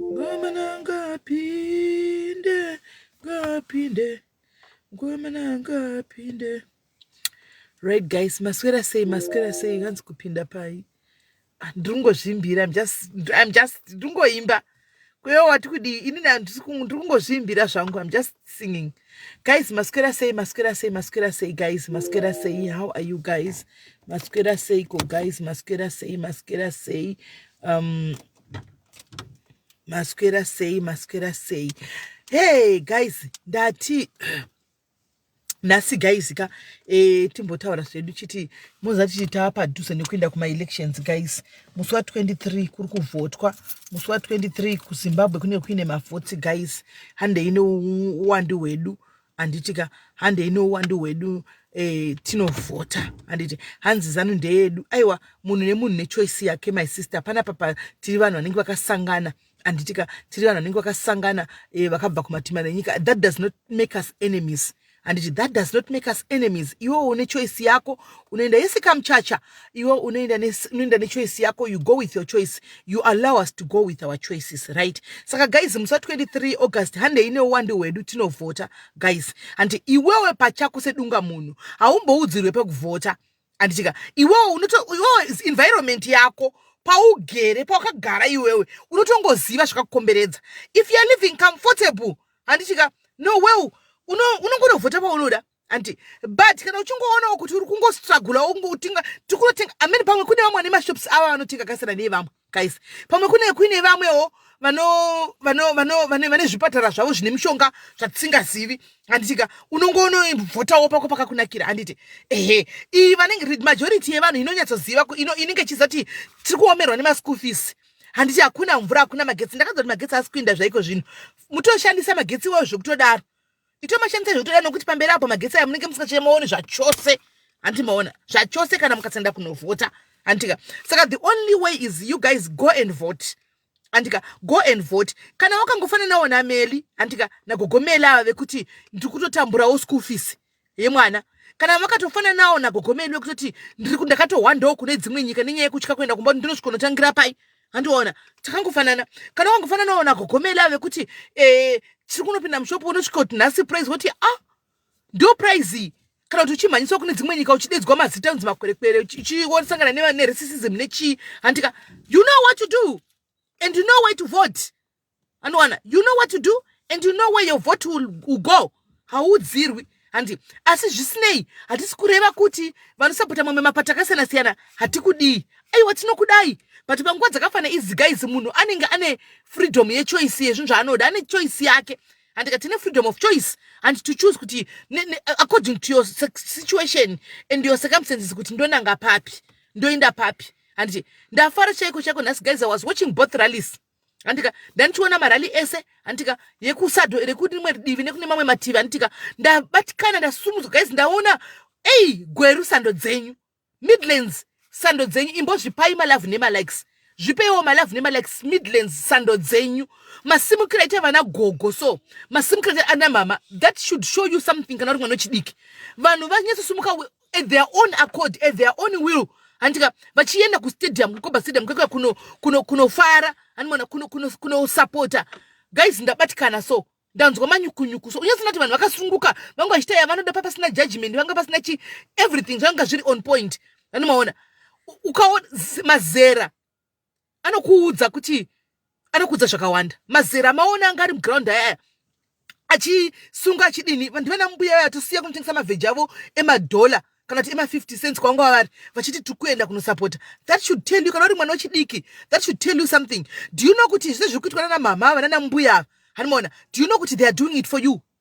Ngomana ngapinde, ngapinde, ngomana ngapinde. Right guys, maswera sei, maswera sei, hanzi kupinda pai. Ah, ndiri kungozvimbira, I'm just, I'm just, ndiri kungoimba. Kweyo wati kudii, ini na- ndiri kungo- ndiri kungozvimbira zvangu, I'm just singing. Guys, maswera sei, maswera sei, maswera sei guys, maswera sei, how are you guys? Maswera sei ko guys, maswera sei, maswera sei. Um, maswera sei maswera sei hey guys ndati nhasi guys ka e, timbotaura zvedu chiti mozati chiti tava padhuze nekuenda kumaelections guys musi wa23 kuri kuvhotwa musi wa23 kuzimbabwe kunenge kuine mavhotsi guys handei neuwandi hwedu handiti ka handei nouwandu hwedu eh, tinovhota handiti hanzi zanu ndeyedu aiwa munhu nemunhu nechoice yake my sister panapapa tiri vanhu vanenge vakasangana handiti ka tiri vanhu vanenge vakasangana eh, vakabva kumatima nenyika that does not make us enemies handiti that does not make us enemies iwewo une choice yako unoenda yese kamuchacha iwe unoenda unoenda nechoice yako you go with your choice you allow us to go with our choices right saka guys musa 23 august handei neuwande hwedu tinovhota guys handi iwewe pachako sedunga munhu haumboudzirwe pekuvhota handitika iwewe unoto iwewe environment yako paugere pawakagara iwewe unotongoziva zvakakukomberedza if youare living comfortable handitika no well unongonovhota paunoda andi but kana uchingoonawo kuti uri kungostragula ungotinga tikunotenga amene pamwe kune vamwe vane mashops ava vanotenga kasiyana neye vamwe guys pamwe kune kuine vamwewo vane zvipatara zvavo zvine mishonga zvatisingazivi handitika unongoonovhotawo pako pakakunakira handiti ehe iyi vanenge majority yevanhu inonyatsoziva inenge ichizati tiri kuomerwa nemaschool fees handiti hakuna mvura hakuna magetsi ndakazoti magetsi asi kuinda zvaiko zvino mutoshandisa magetsi iwayo zvekutodaro Ito mashandisa zvotoda nokuti pamberi apo magetsi aya munenge musingachemaoni zvachose hanti maona zvachose kana mukasenda kunovhota handika saka the only way is you guys go and vote handika go and vote kana wakangofananawo nameli handika nagogomeli ava vekuti ndiri kutotamburawo school fees yemwana kana vakatofananawo nagogomeli vekutoti ndiri ndakatohwandawo kune dzimwe nyika nenyaya yekutya kuenda kumba kuti ndinosvikonotangira pai handiona takangofanana kana wangofananawo nagogomeli ave kuti eh, tiri kunopinda mushopo unosvika kuti nhasi prize woti a ah, ndo prize iyi kana kuti uchimhanyiswa kune dzimwe nyika uchidedzwa mazita anonzi makwerekwere uchisangana neresisism nechii handika you know what to do and you know way to vote anowana you know what to do and you know where your vote will, will go haudzirwi handi asi zvisinei hatisi kureva kuti vanosapota mamwe mapata akasiyana siyana hatikudii aiwa tinokudai but panguva dzakafana iziga izi munhu anenge ane freedom yechoice yezvinhu zvaanoda ane choice yake handika tine freedom of choice and to choose kuti according to your situation and your circumstances kuti ndonanga papi ndoenda papi handiti ndafara chaiko chaiko nhasi guys i was watching both rallies handika ndandichiona marali ese handika yekusado ere kune rimwe divi nekune mamwe mativi handika ndabatikana ndasumudzwa guys ndaona ei gweru sando dzenyu midlands sando dzenyu imbozvipai malove nemalikes zvipeiwo malove nemalikes midlands sando dzenyu masimukira ita vana gogo so masimukira ita ana mama that should show you something kana uri mwana wechidiki vanhu vanyatsosumuka at their own accord at their own will handika vachienda kustadium kukoba stadium kekuya kunofara kuno, kuno hanimona kunosapota kuno, kuno, kuno guys ndabatikana so ndanzwa manyukunyuku so unyasina kuti vanhu vakasunguka vangu vachita yavanoda papasina judgment vanga pasina chi everything zvanga zviri on point vanomaona ukaona mazera anokuudza kuti anokuudza zvakawanda mazera maona anga ari muground ayaya achisunga achidini vanhu vana mbuya vaya tosiya kunotengesa mavheji avo emadhola kana kuti ema50 cents kwanga wavari vachiti tiri kuenda kunosapota that should tell you kana uri mwana wechidiki that should tell you something do you know kuti zvese zviri kuitwa nana mhamha ava nana mbuya ava hanimona do you know kuti they are doing it for you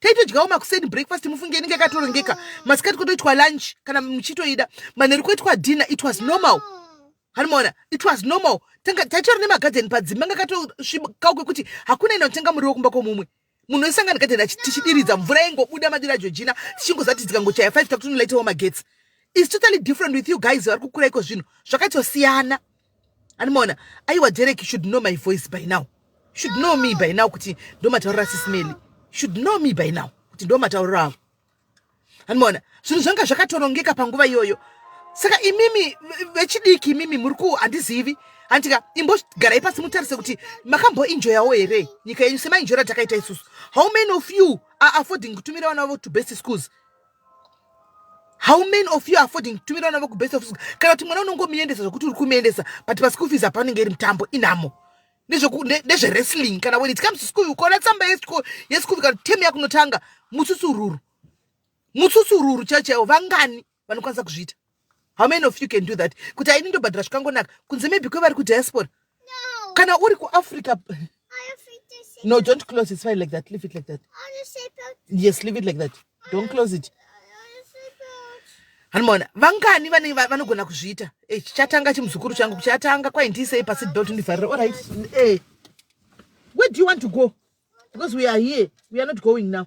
taitodyawo makuseni breakfast mufunge inenge yakatorongeka masikati kotoitwa lunch kana muchitoida manheru koitwa dinner it was normal hanimona it was normal tanga taitori nemagadheni padzimba anga katosvikawo kwekuti hakuna ina kutenga muriwo kumba kwomumwe munhu wesangana gadheni tichidiridza mvura yengobuda madira jojina tichingozati tikangochaya five takutonolayitewo magetsi is totally different with you guys vari kukura iko zvinhu zvakatosiyana animaona aiwa derek should know my voice by now should know me by now kuti ndomataurira sismeli should know me by now kuti ndomatauriro avo animaona zvinhu zvanga zvakatorongeka panguva iyoyo saka imimi vechidiki imimi muri ku handizivi handitika imbogarai pasi mutarise kuti makamboinjoyawo here nyika yenyu semainjoyera takaita isusu how many of you are affording kutumira vana vavo to best schools how many of you affording kutumira vana vekubest of school kana kuti mwana unongomuendesa zvekuti uri kumuendesa but paschool fees hapanenge iri mutambo inhamo nezvewrestling kana when it comes to school ukaona tsamba yeschool kana tem yakunotanga mutsusururu mutsusururu chaiwo chaiwo vangani vanokwanisa kuzviita how many of you can do that kuti aini ndobhadhira zvikangonaka kunze maybe kwevari kudiaspora no. kana uri kuafrica no don't close it's fine like that leave it like that yes leave it like that don't close it hanimona vangani vane vanogona kuzviita eh, chatanga chimuzukuru changu kuchatanga kwai ndiisei pasit belt ndivharira orit eh, where do you want to go because we are here we are not going now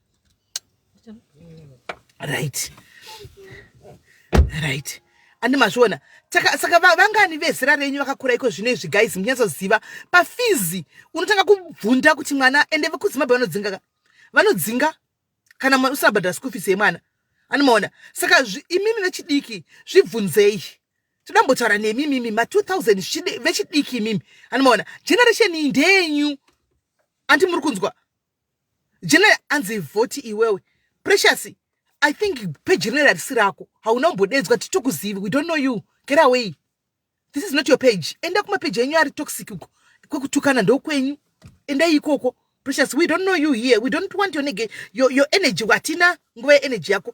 right right andi mazviona saka vangani vezera renyu vakakura iko zvino izvi guys munyatsoziva pafizi unotanga kubvunda kuti mwana ende vekuzimbabwe vanodzinga vanodzinga kana usina bhadhara school fees yemwana anomaona saka imimi vechidiki zvibvunzei todambotaura nemi imimi ma 2000 vechidiki imimi anomaona generation iyi ndeyenyu andi muri kunzwa General anzi voti iwewe. Precious, I think pe general harisi rako. Hauna umbodedzwa titokuzivi. We don't know you. Get away. This is not your page. Enda kuma page enyu ari toxic uko. Kwekutukana ndokwenyu. Enda ikoko. Precious, we don't know you here. We don't want your, your, your energy. Watina nguva energy yako.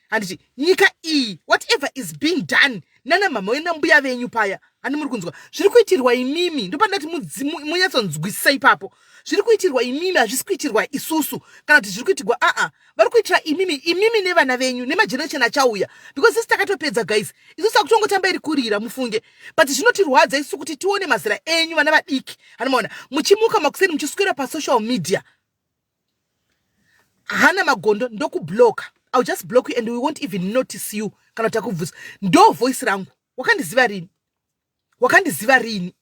handiti nyika iyi whatever is being done nana mhamha wena mbuya venyu paya handi muri kunzwa zviri kuitirwa imimi ndopandati munyatsonzwisisa ipapo zviri kuitirwa imimi hazvisi kuitirwa isusu kana kuti zviri kuitirwa aa vari kuitira imimi imimi nevana venyu nemageneration achauya because isi takatopedza guys isusu akutongotamba iri kurira mufunge but zvinotirwadza isu kuti tione mazera enyu vana vadiki hanimaona muchimuka makuseni muchiswera pasocial media hana magondo ndokubloka ill just block you and we won't even notice you kana kuti akubvunza ndo voice rangu wakandiziva rini wakandiziva rini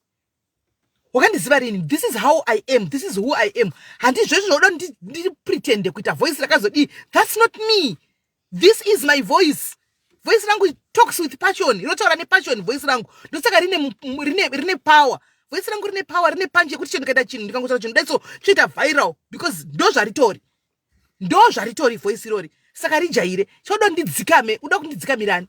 wakandiziva rini this is how i am this is who i am handizvezvo zvoda ndipretende kuita voice rakazodii thats not me this is my voice voice rangu talks with passion rinotaura nepassion voice rangu ndosaka rine, rine, rine power voice rangu rine power rine panje yekuti chino ndikaita chinhu ndikangotaura chinhu daiso chinoita viral because ndo zvaritori ndo zvaritori voice irori saka rijaire chodo ndidzikame uda kundidzikamirani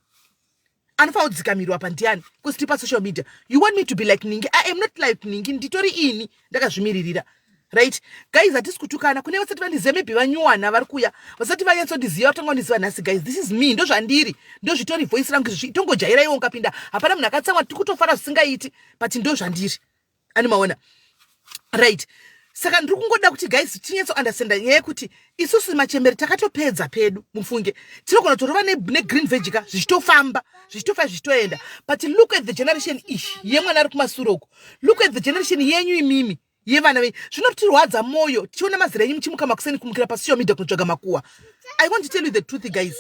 anofanira kudzikamirwa pandiani because tiri pasocial media you want me to be like ningi i am not like ningi nditori ini ndakazvimiririra right guys hatisi kutukana kune vasati vandiziva maybe vanyuwana vari kuya vasati vanyatsondiziva vatanga kundiziva nhasi guys this is me ndozvandiri ndozvitori voice rangu izvozvi itongojaira iwo ukapinda hapana munhu akatsamwa tiri kutofara zvisingaiti but ndozvandiri ani maona right saka ndiri kungoda kuti guys tinyatso understanda nyaya yekuti isusu machembere takatopedza pedu mufunge tinogona kutorova negreen vege ka zvichitofamba zvichitofa zvichitoenda but look at the generation ish yemwana ari kumasuro uko look at the generation yenyu imimi yevana venyu zvinotirwadza mwoyo tichiona mazira enyu muchimuka makuseni kumukira pasocial media kunotsvaga makuwa i want to tell you the truth guys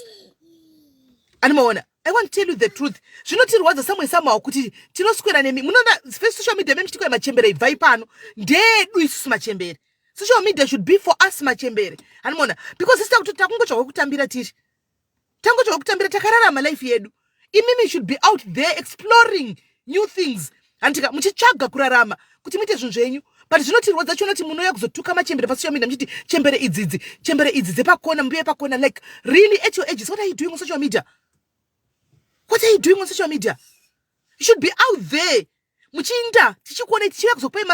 ani maona I want to tell you the truth. Zvinotirwadza samwe somehow kuti tinoswera nemi. Munoona first social media memi chitikoya machembere ibvai pano. Ndeedu isusu machembere. Social media should be for us machembere. Hanimona because sisi takuti takungotsvaga kutambira tiri. Tangotsvaga kutambira takararama life yedu. Imimi should be out there exploring new things. handika muchitsvaga kurarama kuti muite zvinhu zvenyu but zvinotirwadza chiona kuti munouya kuzotuka machembere pasocial media muchiti chembere idzidzi chembere idzi dzepakona mbuya pakona like really at your ages what are you doing on social media what are you doing on social media you should be out there muchiinda tichikuonai tichiuya kuzopai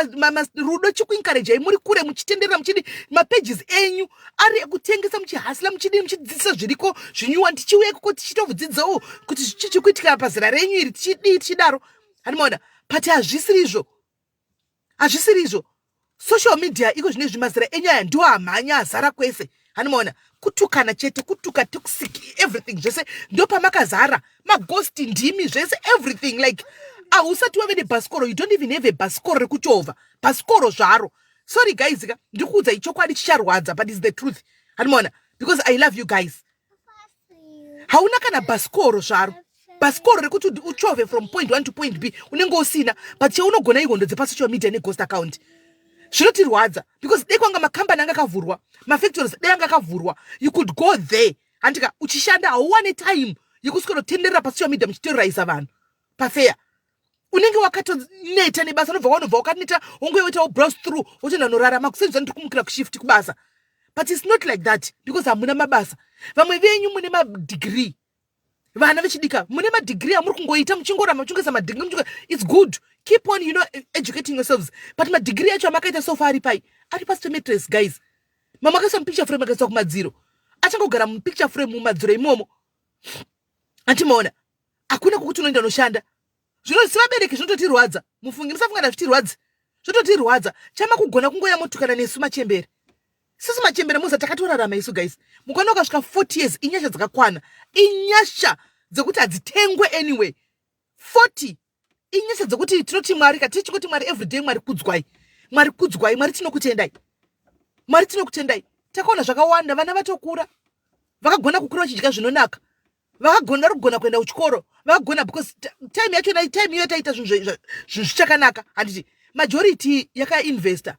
rudo chikuinkarejai muri kure muchitenderera muchidi mapages enyu ari ekutengesa muchihasila muchidii muchidzidzisa zviriko zvinyuwani tichiuya ikoko tichitovudzidzawo kuti chichikuitika pazera renyu iri tichidii tichidaro hani maona but hazvisiri izvo hazvisiri izvo social media iko zvine zvimazira enyaya ndiwo amhanya azara kwese hani maona kutukana chete kutuka toxic everything zvese ndopamakazara maghost ndimi zvese everything like ahusati wave nebhasikoro you don't even have a bhasikoro rekuchovha bhasikoro zvaro sorry guys ka ndikuudza ichokwadi chicharwadza but is the truth handimaona because i love you guys hauna kana bhasikoro zvaro bhasikoro rekuti uchove from point one to point b unenge usina but cheunogona ihondo dzepasocial media neghost account zvinotirwadza because dei kwanga makambani anga akavhurwa mafactories dei anga akavhurwa you could go there handika uchishanda hauwane time yekuswera kutenderera pasocial media muchiterroriza vanhu pafeya unenge wakatoneta nebasa unobva wanobva wakaneta wonge woitawo browse through wotoenda norarama kuseni zvani tiri kumukira kushift kubasa but its not like that because hamuna mabasa vamwe venyu mune madegree vana vechidika mune madegree amuri kungoita muchingorama muchingesa madegree muchingo its good keep on you know e-, educating yourselves but madegree acho amakaita sofa ari pai ari pasi pematress guys mamakaisa mupicture frame akaiswa kumadziro achangogara mupicture frame mumadziro imomo atimaona hakuna kwokuti unoenda unoshanda zvino sevabereki zvinototirwadza mufungi musafunga ndazvitirwadzi zvototirwadza chama kugona kungoya motukana nesu machembere sisi machembere muza takatorarama isu guys mukwana ukasvika 40 years inyasha dzakakwana inyasha dzekuti hadzitengwe anyway 40 inyasha dzekuti tinoti mwari ka tichi kuti mwari everyday mwari kudzwai mwari kudzwai mwari tinokutendai mwari tinokutendai takaona zvakawanda vana vatokura vakagona kukura vachidya zvinonaka vakagona vari kugona kuenda kuchikoro vakagona because time yacho nai time iyo taita zvinhu zvinhu zvichakanaka handiti majority yakainvesta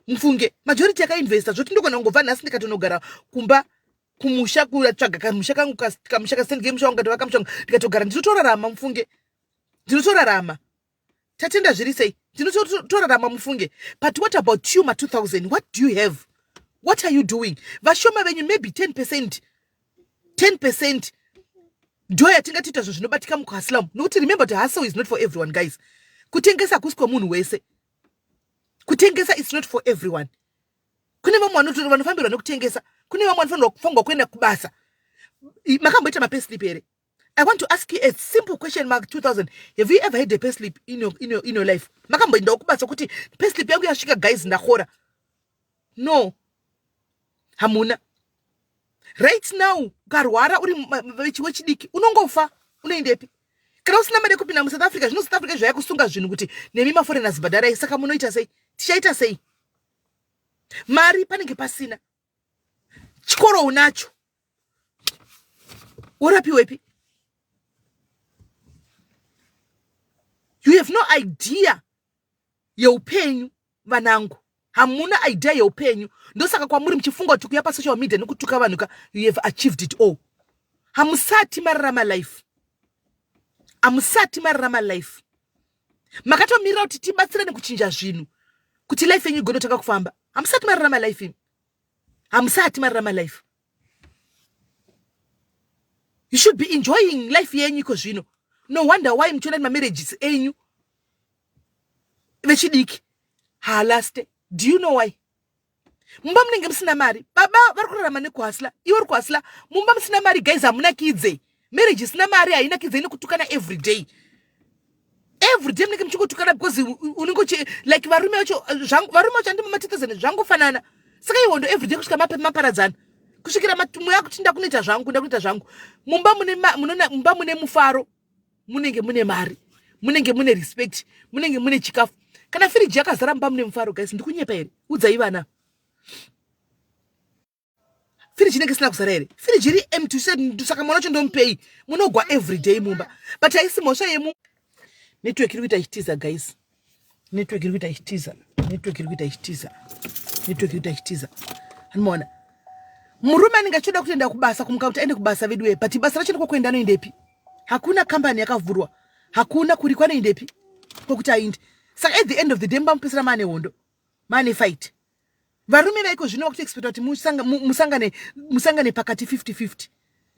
mufunge majority yakainvesta zvoti ndogona kungobva nhasi ndikatonogara kumba kumusha kutsvaga kamusha kangu kamusha kasendike musha wangu katova kamusha wangu ndikatogara ndinotorarama mufunge ndinotorarama tatenda zviri sei ndinotorarama mufunge but what about you ma 2000 what do you have what are you doing vashoma venyu maybe 10 percent 10 percent ndo yatingatiita zvinhu zvinobatika mukuhasilamu nokuti remember kuti hustle is not for everyone guys kutengesa hakusi kwemunhu wese kutengesa is not for everyone kune vamwe vanotora vanofambirwa nekutengesa kune vamwe vanofanirwa kuenda kubasa makamboita mapeslip here i want to ask you a simple question mark 2000 have you ever had a peslip in your, in your, in your life makamboendawo kubasa kuti peslip yangu yasvika guys ndakora no hamuna right now ukarwara uri vechiwe chidiki unongofa unoendepi kana usina mari yekupinda musouth africa zvino south africa zvaya kusunga zvinhu kuti nemi maforeigners bhadharai saka munoita sei tichaita sei mari panenge pasina chikoro unacho worapiwepi you have no idea yeupenyu vanangu hamuna idea yeupenyu ndosaka kwamuri muchifunga kuti kuya pasocial media nekutuka vanhu ka you have achieved it all hamusati mararama life hamusati mararama life makatomirira kuti tibatsirane kuchinja zvinhu kuti life yenyu igonotanga kufamba hamusati mararama life imi hamusati mararama life you should be enjoying life yenyu iko zvino no wonder why muchiona mamarriages enyu vechidiki haalaste do you know why mumba munenge musina mari baba vari kurarama nekuhasla iwe uri kuhasla mumba musina mari guys hamunakidze marriage isina mari hainakidze inokutukana everyday everyday munenge muchingotukana because unenge uchi like varume vacho varume vacho andimo matetezene zvangofanana saka ihondo everyday kusvika mapepi maparadzana kusvikira mweya akuti ndakunoita zvangu ndakunoita zvangu mumba mune mumba mune mufaro munenge mune mari munenge mune respect munenge mune chikafu kana firiji yakazara mumba mune mufaro guys ndikunyepa here udzai vana firiji inenge isina kuzara here firiji iri empty saka mwana wacho ndomupei munogwa everyday mumba but haisi mhosva yemu network iri kuita ichitiza guys network iri kuita ichitiza network iri kuita ichitiza network iri kuita ichitiza anomaona murume anenge achitoda kutoenda kubasa kumuka kuti aende kubasa veduwe but basa racho ndiko kuenda anoendepi hakuna kambani yakavhurwa hakuna kuri kwanoendepi kwokuti aindi saka at the end of the day mubamupesera maane hondo maane fight varume vaiko zvino vakutoexpecta kuti musangane musangane pakati 50 50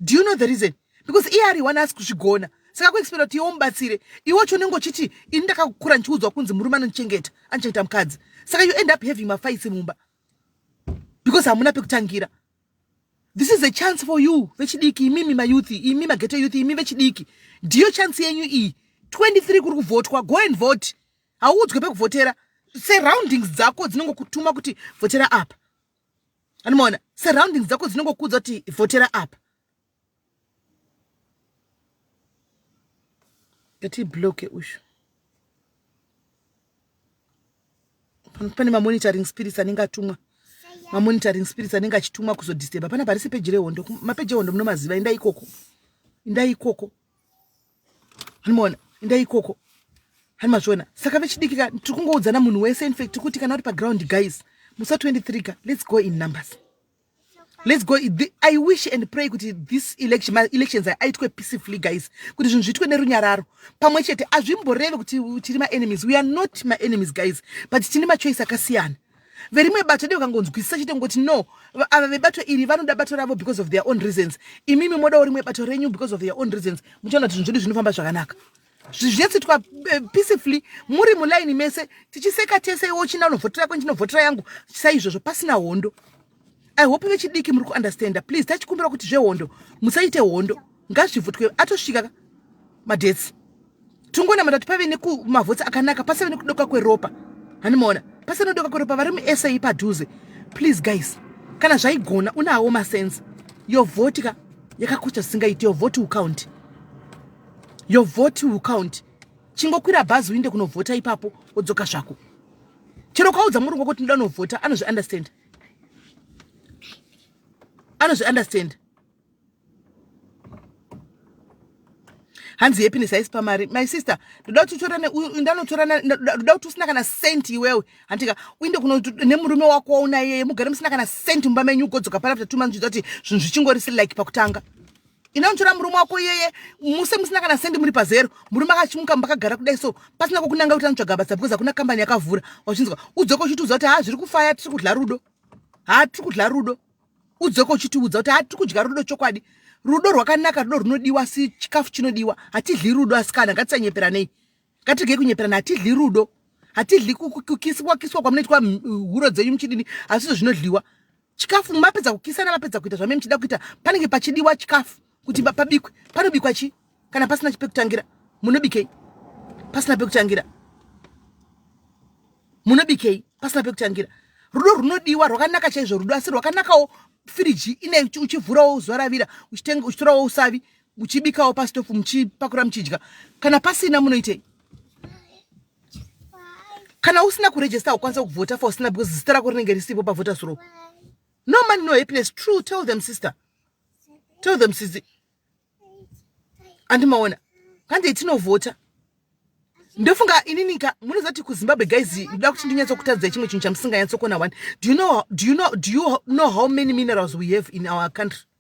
do you know the reason because iye ari one asi kuzvigona saka kuexpecta kuti iwo mubatsire iwo chonenge uchiti ini ndakakukura ndichiudzwa kunzi murume anondichengeta andichengeta mukadzi saka you end up having mafaitsi mumba because hamuna pekutangira this is a chance for you vechidiki imimi mayouth imi mageto youth imi vechidiki ndiyo chance yenyu iyi 23 kuri kuvhotwa go and vote hauudzwe pekuvhotera surroundings dzako dzinongokutuma kuti vhotera apa anomaona surroundings dzako dzinongokuudza kuti vhotera apa ati bloke ushu pane mamonitoring spirits anenge atumwa mamonitoring spirits anenge achitumwa kuzodisteba pana parisi peji rehondo mapeji ehondo munomaziva indai ikoko indai ikoko Hanimona, endai ikoko. Hanimazviona, saka vechidiki ka tiri kungoudzana munhu wese infact tiri kuti kana uri paground guys musa 23 ka let's go in numbers let's go the, i wish and pray kuti this election ma elections aitwe peacefully guys kuti zvinhu zviitwe nerunyararo pamwe chete hazvimboreve kuti tiri maenemies we are not maenemies guys but tine machoice akasiyana verimwe bato dei ukangonzwisisa chete ngoti no ava vebato iri vanoda bato ravo because of their own reasons imimi modawo rimwe bato renyu because of their own reasons muchaona kuti zvinhu zvedu zvinofamba zvakanaka zvichetsitwa eh, peacefully muri mulaini mese tichiseka tese iwo china unovhotera kwendinovhotera yangu saizvozvo pasina hondo i hope vechidiki muri kuunderstanda please tachikumbira kuti zvehondo musaite hondo ngazvivhutwe atosvika ka madetsi tongonamata kuti pave nekumavhotsi akanaka pasave nekudoka kweropa hanimoona pasave nekudoka kweropa vari musa padhuze please guys kana zvaigona unawo masense yovhoti ka yakakosha zvisingaiti yovhoti ukaunti yovhoti ukaunti chingokwira bhazi uinde kunovhota ipapo wodzoka zvako chero ukaudza murungu kuti ndinoda unovhota anozviunderstanda anozvi understand hanzi happiness haisi pamari my sister ndoda kuti utorane ndanotorana ndoda kuti usina kana cent iwewe handika uinde kuno nemurume wako wauna iyeye mugare musina kana cent mumba menyu ugodzoka pari after two months zviita kuti zvinhu zvichingorisi like pakutanga ine unotora murume wako iyeye muse musina kana sendi muri pazero murume akachimuka makagara kudai so pasina kokunanga kuti anotsvaga basa because hakuna kambani yakavhura wachinzwa udzoka uchitiudza kuti haa zviri kufaya tiri kudya rudo haa tiri kudya rudo udzoka uchitiudza kuti haa tiri kudya rudo chokwadi rudo rwakanaka rudo runodiwa asi chikafu chinodiwa hatidli rudo asikana ngatisanyeperanei Ngatirege kunyeperana, hatidli rudo, hatidli kukiswa kiswa kwamunoitwa huro dzenyu muchidini, hazvizvo zvinodliwa. Chikafu mapedza kukisana, mapedza kuita zvamene muchida kuita, panenge pachidiwa chikafu kuti pabikwe. Panobikwa chi kana pasina pekutangira? Munobikei pasina pekutangira? Munobikei pasina pekutangira? Rudo runodiwa rwakanaka chaizvo rudo, asi rwakanakawo firiji ine uchivhurawo uzoravira uchitenga uchitorawo usavi muchibikawo pasitofu muchipakura muchidya kana pasina munoitei kana usina kurejesta ukwanisa kuvhota for usina because zita rako rinenge risipo pavhota suro no money no happiness true tell them sister tell them sizi andimaona kandei tinovhota ndofunga ininika munoziva kuti kuzimbabwe guys ndoda kuti ndinyatsokutadzai chimwe chinhu chamusinganyatsokuona one do you know, do you know, do you know how many minerals we have in our country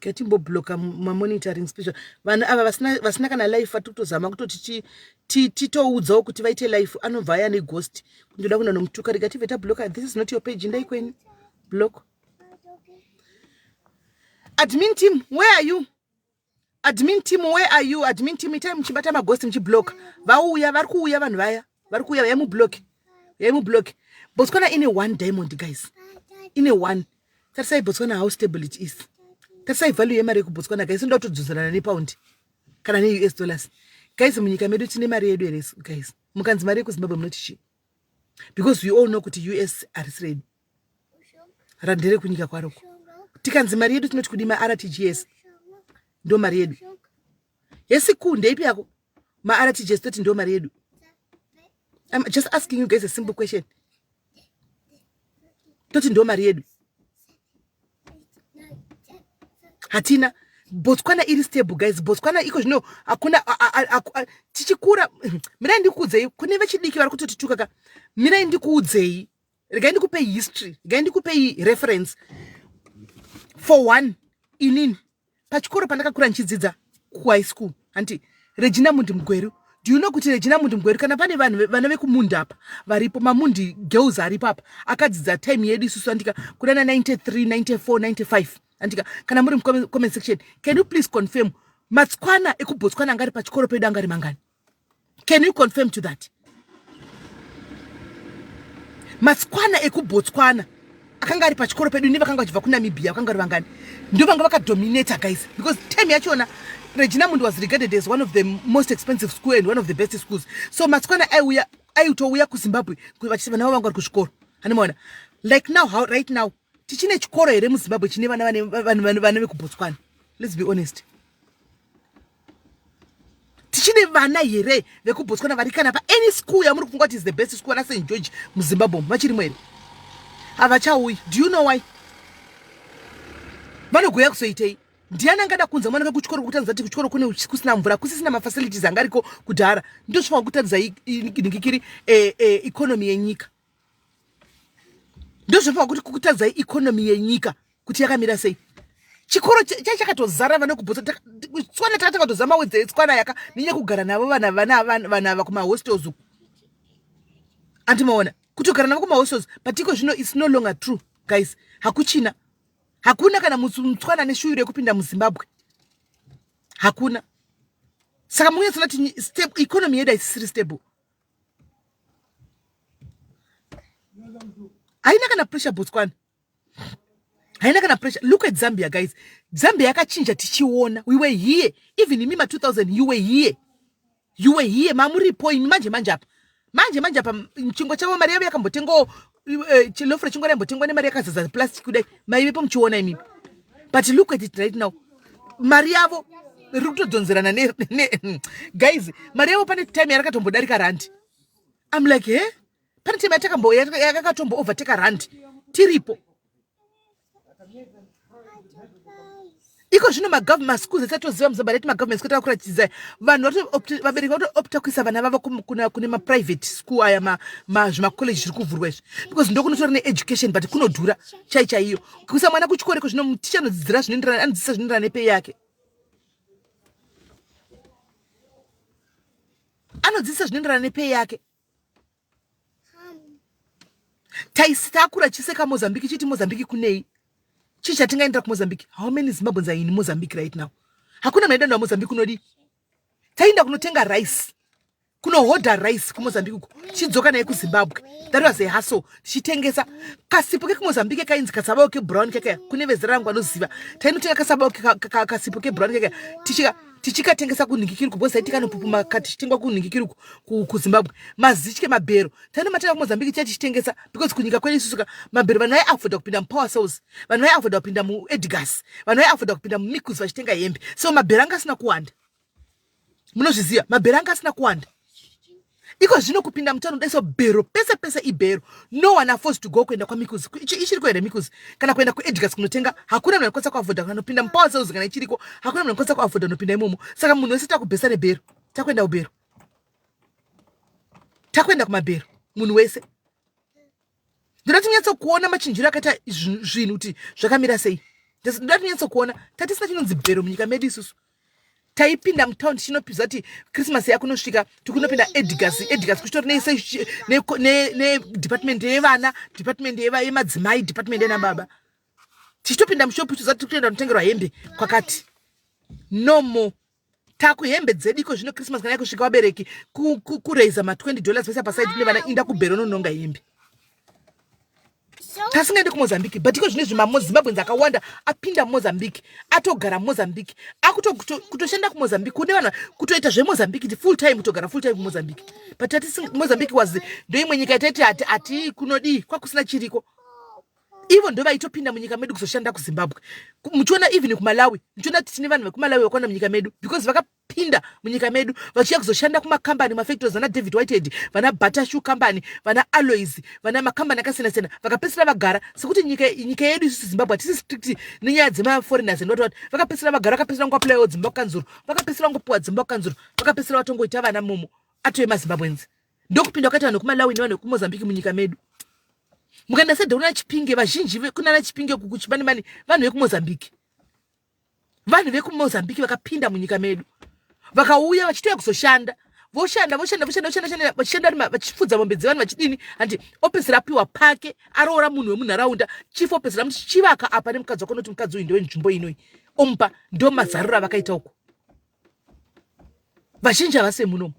ketimbobloka mamonitoring special vanhu ava vasina kana life vatiri kutozama kutoti titoudzawo kuti vaite life anobva aya neghost kundoda kuenda nomutuka rega tibve tabloka this is not your page ndai kwenyu block admin team where are you Admin team where are you? Admin team itai muchibata maghost muchiblock. Vauya vari kuuya vanhu vaya. Vari kuuya vaya mublock. Yai mublock. Botswana ine one diamond guys. Ine one. Tarisai Botswana how stable it is. Tarisai value yemari yekuBotswana guys inoda kutodzodzerana nepound kana neUS dollars. Guys munyika medu tine mari yedu here guys? Mukanzi mari yekuZimbabwe munoti chii? Because we all know kuti US harisiredi. radhere kunyika kwaroko tikanzi mari yedu tinoti kudi martgs ndo mari yedu yesi ku ndeipi yako martgs toti ndo mari yedu I'm just asking you guys a simple question toti ndo mari yedu hatina botswana iri stable guys botswana iko zvino hakuna tichikura mirai ndikuudzei kune vechidiki vari kutotituka ka mirai ndikuudzei regai ndikupei history regai ndikupei reference for one inini pachikoro pandakakura ndichidzidza kuhigh school hanti regina mundi mugweru do you know kuti regina mundi mugweru kana pane vanhu vana vekumundi apa varipo mamundi girls aripo apa akadzidza time yedu isusu andika kuna na 93 94 95 andika kana muri mucomment section can you please confirm matsikwana ekubotswana angari pachikoro pedu angari mangani can you confirm to that matsikwana ekubotswana akanga ari pachikoro pedu ne vakanga vachibva kunamibia vakanga vari vangani ndo vanga vakadominator guys because time yachona regina mundi was regarded as one of the most expensive school and one of the best schools so matsikwana aiuya aitouya kuzimbabwe vachiti vana vavo vanga vari kuzvikoro handimaona like now how right now tichine chikoro here muzimbabwe chine vana vane vekubotswana let's be honest tichine vana here vekubotswana vari kana pa any school yamuri kufunga kuti is the best school ana st george muzimbabwe vachirimo here havachauyi do you know why vanogoya kuzoitei ndiani angada kunza mwana vekuchikoro kutandza ti kuchikoro kune kusina mvura kusisina mafacilities angariko kudhara ndosvika kutandza inikikiri eh, eh, economy yenyika ndozvapa kuti kutadzai economy yenyika kuti yakamira sei chikoro chachakatozara vanokubhutsa tswana taka takatoza mawedza etswana yaka nenye kugara navo vana vana vana ava kumahostels uku andimaona kutogara navo kumahostels but iko zvino its no longer true guys hakuchina hakuna kana mutswana neshuyu rekupinda muzimbabwe hakuna saka munyatsoona ti step economy yedu haisisiri stable haina kana pressure botswana haina kana pressure look at zambia guys zambia yakachinja tichiona we were here even imi ma 2000 you were here you were here mamuripo imi manje manje apa manje manje apa chingwa chavo mari yavo yakambotengawo eh, chilofu rechingwana imbotengwa nemari yakazadza plastic kudai maivepo muchiona imimi but look at it right now mari yavo riri kutodhonzerana ne, ne hmm. guys mari yavo pane time yarakatombodarika randi im like he eh? pane time yatakatombo overtake randi tiripo iko zvino magovernment schools atichatoziva muzobva rati magovernment school takuratidza vanhu vabereki vatoopta kuisa vana vavo kune maprivate school aya zvimacollege zviri kuvhurwa izvi because ndokunotora needucation but kunodhura chai chaiyo kuisa mwana kuchikoro iko zvino muticha anodzidzira zvinoenderana anodzidzisa zvinoenderana nepei yake anodzidzisa zvinoenderana nepei yake taisitakura chise kamozambique chiti mozambique kunei chii chatingaendera kumozambique how many zimbabweans are in mozambique right now hakuna maida nda mozambique unodii taienda kunotenga rice kunohodha rice kumozambique uko tichidzoka naye kuzimbabwe that was a hustle tichitengesa kasipo kekumozambique kainzi kasabao kebrown kekaya kune vezera rangu anoziva tainotenga kasabao kasipo kebrown kekaya tichika tichikatengesa kunhingikiruku because aitika nopupuma ka tichitengwa kunhingikiruku kuzimbabwe mazitye mabhero taenda matenga kumozambique tiya tichitengesa because kunyika kwedu isusu ka mabhero vanhu vaiavoda kupinda mupower cells vanhu vaiavoda kupinda muedgas vanhu vaiavoda kupinda mumicus vachitenga hembe so mabhero anga asina kuwanda munozviziva mabhero anga asina kuwanda iko zvino kupinda mutown daiso bhero pese pese ibhero no one affords to go kuenda kwamikuzi ichiriko here mikuzi kana kuenda kuedgars kunotenga hakuna munhu anokwanisa kuavoda kana nopinda mupower sales kana ichiriko hakuna munhu anokwanisa kuavoda nopinda imomo saka munhu wese takubhesa nebhero takuenda kubhero takuenda kumabhero munhu wese ndoda tinyatsokuona machinjiro akaita zvinhu kuti zvakamira sei ndoda tinyatsokuona tatisina chinonzi bhero munyika medu isusu taipinda mutown tichinopiza kuti christmas yakunosvika tikunopinda edgas edgas kuchitori nedepartment yevana department yemadzimai department yena baba tichitopinda mushopu tichiza tiri kutoenda kunotengerwa hembe kwakati no more Taku hembe dzedu iko zvino Christmas kana yakusvika vabereki ku, ku, ku raiser ma 20 dollars voisa paside kune vana inda kubhero nononga hembe tasingaende kumozambique but iko zvine zvimazimbabwens akawanda apinda mumozambique atogara mumozambique akutoshanda kuto, kumozambique kune vanhu kutoita zvemozambique ti full time kutogara full time kumozambique but mozambique was ndoimwe nyika yataiti ati kunodii kwakusina chiriko ivo ndo vaitopinda munyika medu kuzoshanda kuzimbabwe muchiona even kumalawi muchiona kuti tine vanhu vekumalawi vakwana munyika medu because vakapinda munyika medu vachiya kuzoshanda kumakambani mafactories vana david whitehead vana batashu kambani vana alois vana makambani akasiyana siyana vakapedzisira vagara sekuti nyika nyika yedu isusu zimbabwe hatisi strict nenyaya dzemaforeigners anoti vati vakapedzisira vagara vakapedzisira ngoaplayiwo dzimba kukanzuru vakapedzisira ngopiwa dzimba kukanzuru vakapedzisira vatongoita vana momo atove mazimbabwenzi ndokupinda kwakaita vanhu vekumalawi nevanhu vekumozambique munyika medu mukaenda sedha kuna chipinge vazhinji kunana chipinge kukuchibani mani vanhu vekumozambique vanhu vekumozambique vakapinda munyika medu vakauya vachitouya kuzoshanda voshanda voshanda voshanda voshanda vachishanda vachifudza mombe dzevanhu vachidini handi opedzisira apiwa pake aroora munhu wemunharaunda chief opedzisira muti chivaka apa nemukadzi wako noti mukadzi uyu ndewenzvimbo inoi omupa ndo mazarura vakaita uko vazhinji havase munomu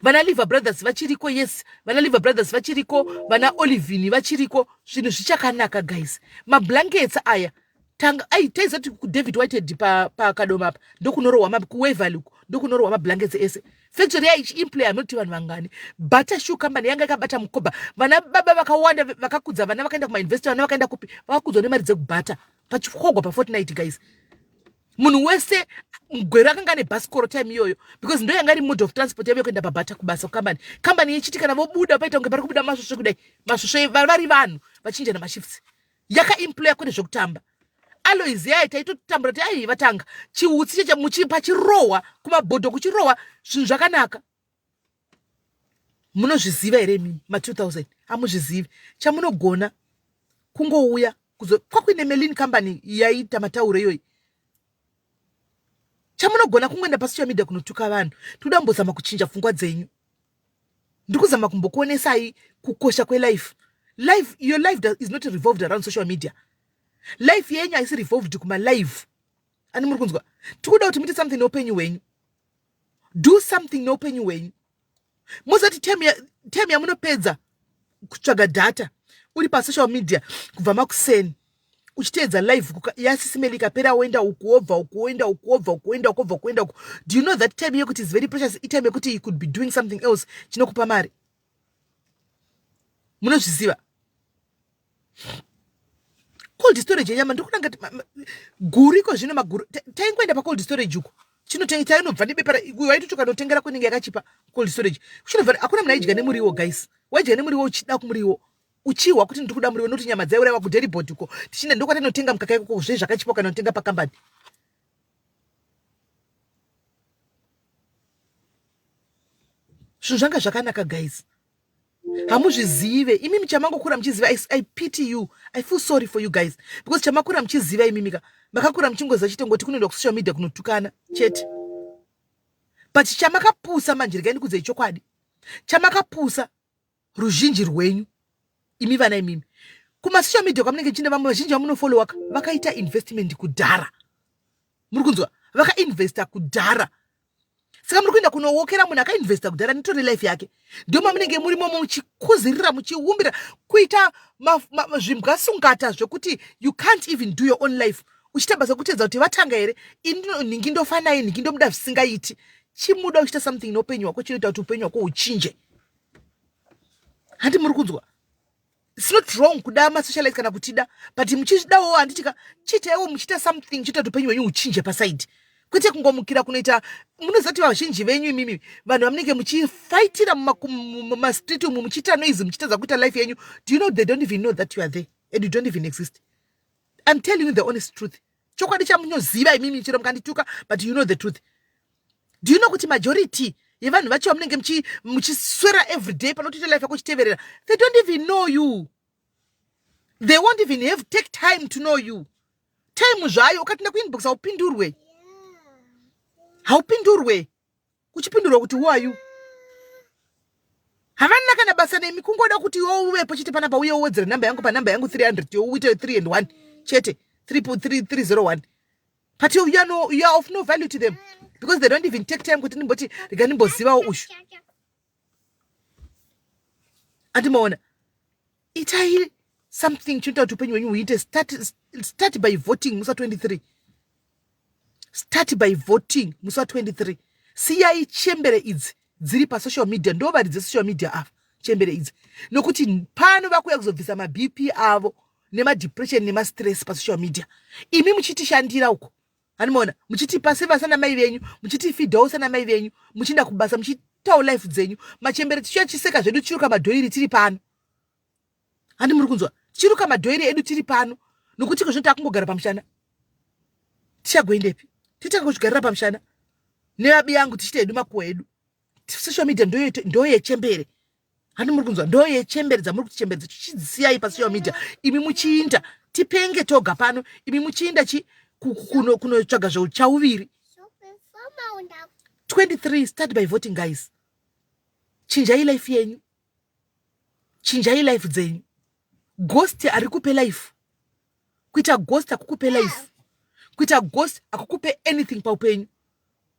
vana liver brothers vachiriko yes vana liver brothers vachiriko vana olivini vachiriko zvinhu zvichakanaka guys mablankets aya tanga ai taizati kudavid whited pakadoma apa ndokunorohwa kuwevaluk ndokunorohwa mablankets ese factory yaichiimplay anoti vanhu vangani butter shoe company yanga ikabata mukoba vana baba vakawanda vakakudza vana vakaenda kumainvestor vana vakaenda kupi vakakudzwa nemari dzekubata pachikogwa pafortnight guys munhu wese mugwero akanga ane bhasikoro time iyoyo because ndo yanga iri mode of transport yave kuenda pabhata kubasa kukambani kambani yechiti kana vobuda paita kunge pari kubuda masvosve kudai masvosve vari vanhu vachinjana mashifts yakaemploya kwete zvekutamba alois yaye taitotambura ti ai vatanga chiutsi cheche muchipa chirohwa kumabhodho kuchirohwa zvinhu zvakanaka munozviziva here imimi ma 2000 hamuzvizivi chamunogona kungouya kuzo kwakuine melin company yaiita matauro iyoyi chamunogona kungoenda pasocial media kunotuka vanhu tikuda mbozama kuchinja pfungwa dzenyu ndiri kuzama kumbokuonesai kukosha kwelife life your life does, is not revolved around social media life yenyu haisi revolved kumalive ani muri kunzwa tikuda kuti muite something neupenyu hwenyu do something neupenyu hwenyu musati tem yamunopedza kutsvaga data uri pasocial media kubva makuseni uchiteedza live yasisimeli ikapera woenda uku wobva uku woenda uku wobva uku woenda uku wobva kuenda uku do you know that time yekuti is very precious itime yekuti you could be doing something else chinokupa mari munozviziva cold storage yenyama ndikunanga guru iko zvino maguru taingoenda pacold storage uko chinotainobva nebepa waitochoka notengera kunenge yakachipa cold storage chinobva hakuna munhu aidya nemuriwo guys waidya nemuriwo uchida kumuriwo uchihwa kuti ndiri kuda muriwo nokuti nyama dzaiuraiwa kuderibod uko tichienda ndokwatanotenga mukaka ikoko zve zvakachipa kana utenga pakambani zvinhu zvanga zvakanaka guys hamuzvizive imi michamangokura muchiziva I, i pity you i feel sorry for you guys because chamakura muchiziva imimika makakura muchingoziva chete ngoti kunoenda kusocial media kunotukana chete but chamakapusa manje regai ndikudzei chokwadi chamakapusa ruzhinji rwenyu imi vana imimi kumasocial media kwamunenge chine vamwe vazhinji vamunofollowa vakaita investment kudhara muri kunzwa vakainvesta kudhara saka muri kuenda kunowokera munhu akainvesta kudhara nitore life yake ndo mamunenge muri momo muchikuzirira muchiumbira kuita zvimbwa sungata zvekuti you can't even do your own life uchiita basa kutedza kuti vatanga here inhingi ndofanai nhingi ndomuda zvisingaiti chimuda uchiita something neupenyu hwako chinoita kuti upenyu hwako huchinje handi muri kunzwa its not wrong kuda masocialite kana kutida but muchidawo handitika chiitaiwo muchiita something chiita kuti upenyu hwenyu huchinje pasaidi kwete kungomukira kunoita munoziva kuti vazhinji venyu imimi vanhu vamunenge muchifaitira mumastreet umu muchiita noise muchitadza kuita life yenyu do you know they don't even know that you are there and you don't even exist i'm telling you the honest truth chokwadi chamunoziva imimi chero mukandituka but you know the truth do you know kuti majority yevanhu vacho vamunenge muchiswera every day panotoita life yako uchiteverera they don't even know you they won't even have take time to know you time zvayo ukapinda kuinbox haupindurwe haupindurwe uchipindurwa kuti who are you havana kana basa nemi kungoda kuti iwo uvepo chete panapa uye uwedzere namba yangu panamba yangu 300 yo uite 3 and 1 chete 301 but you, you, are no, you are of no value to them because they don't even take time kuti ndimboti rega ndimbozivawo ushu ati maona itai something chinoita kuti upenyu hwenyu huite start, start by voting musi wa 23 start by voting musi wa 23 siyai chembere idzi dziri pasocial media ndo varidze social media ava chembere idzi nokuti pano vakuuya kuzobvisa mabp avo nemadepression nemastress pasocial media imi muchitishandira uko Animoona muchitipa seva sana mai venyu muchitifidhawo sana mai venyu muchienda kubasa muchiitawo life dzenyu machembere tichiuya chiseka zvedu tichiruka madhoiri tiri pano handi muri kunzwa tichiruka madhoiri edu tiri pano nokuti kozvino takungogara pamushana tichagoendepi titanga kuzvigarira pamushana nevabi yangu tichiita hedu makuwa edu social media ndoyechembere handi muri kunzwa ndoyechembere dzamuri kuti chembere dzetu chidzisiyai pasocial media imi muchiinda tipenge toga pano imi muchiinda chi kunotsvaga zveuchauviri 23 start by voting guys chinjai life yenyu chinjai life dzenyu ghost ari kupe life kuita ghost akukupe life kuita ghost akukupe anything paupenyu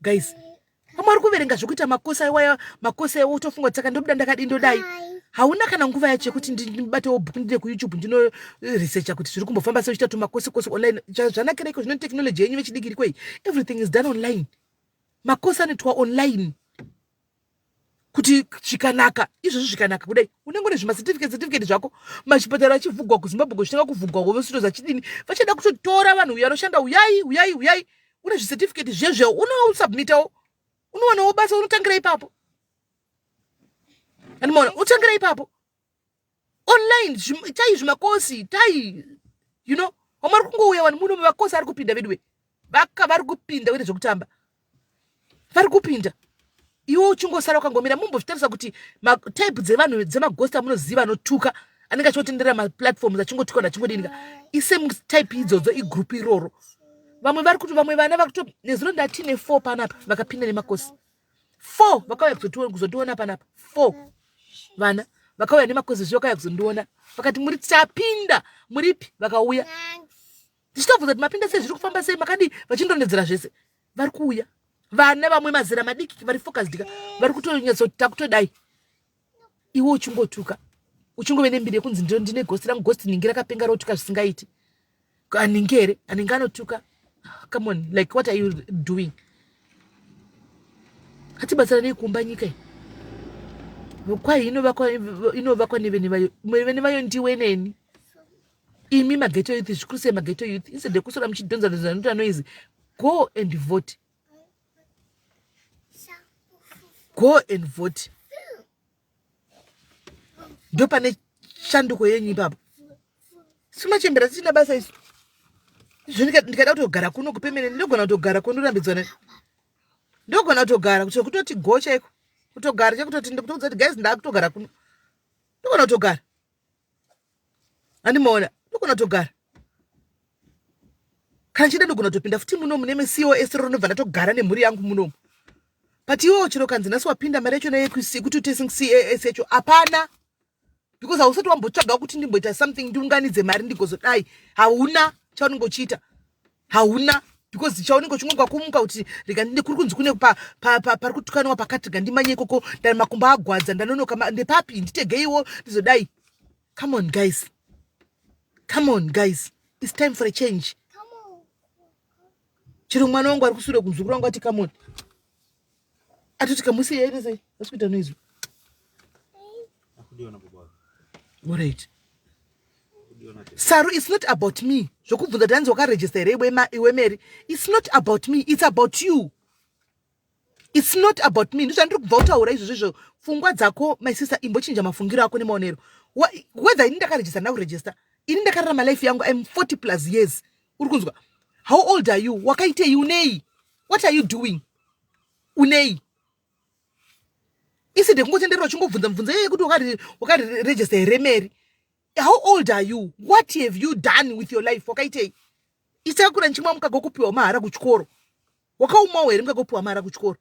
guys pamwe ari kuverenga zvekuita makosa iwaya makosa iwo utofunga kuti saka ndobuda ndakadii ndodai hauna kana nguva yacho yekuti ndibatewo bhuku ndide kuyoutube ndinoresearcha eh, kuti zviri kumbofamba seuchita tumakosekosi online zvanakira iko zvino technology yenyu vechidiki irikoi everything is done online makosi anoitwa online kuti zvikanaka izvozvo zvikanaka kudai unenge une zvimacertificate certificate zvako machipatara achivhugwa kuzimbabwe kuchitanga kuvhugwa wovesito zachidini vachada kutotora vanhu uyo anoshanda uyai uyai uyai une zvicertificate zvezveo unosubmitawo unowanawo basa unotangira ipapo andimaona unotangira ipapo online tai zvimakosi tai you know wamari kungouya vanhu muno makosi ari kupinda veduwe vaka vari kupinda wete zvekutamba vari kupinda iwe uchingosara ukangomira mumbozvitarisa kuti type dzevanhu dzemagosti amunoziva anotuka anenge achiotenderera maplatforms achingotuka vanhu achingodinika isame type idzodzo igroup iroro vamwe vari kuti vamwe vana vakuto nezuro ndatine four panapa vakapinda nemakosi four vakauya kuzotiona panapa four vana vakauya nemakozi zviyo kaya kuzondiona vakati muri tapinda muripi vakauya ndichitobvunza kuti mapinda sei zviri kufamba sei makadii vachindonedzera zvese vari kuuya vana vamwe mazera madiki vari fokasdika vari kutonyatso takutodai iwe uchingotuka uchingove nembiri yekunzi ndo ndine gosti rangu gosti ningi rakapenga rotuka zvisingaiti aningi here aningi anotuka come on like what are you doing atibatsiranei kuumba nyika iyi kwai inovakwa nevene vayo vene vayo ndiwe neni imi mageto youth zvikuru sei mageto youth instead yekusora muchidhonzadhonza noita noizi go and vote go and vote ndo pane shanduko yenyu ipapo simachembera tisina basa isu izvo ndikada kutogara kuno kupemene ndinogona kutogara kwandorambidzwa ne ndogona kutogara kuti kutoti go chaiko kutogara chekutoti ndikutokudza kuti guys ndakutogara kuno ndogona kutogara andimaona ndogona togara kana chida ndogona topinda futi muno mune mcos roro ndobva ndatogara nemhuri yangu munomu but iwewo chero kanzi nhasi wapinda mari yachona yekuti utesing cas yacho hapana because hausati wambotsvaga kuti ndimboita something ndiunganidze mari ndigozodai hauna chaunenge uchiita hauna because chaunenge uchingogwa kumuka kuti rega ndine kuri kunzi kune pari kutukaniwa pakati gandimanye ikoko ndani makumbo agwadza ndanonoka ndepapi nditegeiwo ndizodai come on guys come on guys its time for a change chero mwana wangu ari kusure kumzukuru wangu ati come on atotika musi yaita sei asi kuita noizwi orit saru its not about me zvokubvunza tanzi wakarejista here iwe mary its not about me its about you its not about me ndizvandiri kubva utaura izvo zvezvo pfungwa dzako my sister imbochinja mafungiro ako nemaonero whether ini ndakarejista ndina kurejista ini ndakararama life yangu im 40 plus years uri kunzwa how old are you wakaitei unei what are you doing unei iside kungotenderera uchingobvunza mubvunzo yeye kuti wakaregister here mary how old are you what have you done with your life wakaitei isakura ndichimwa mukagokupiwa mahara kuchikoro Wakaumawo here mukakopihwa mara kuchikoro?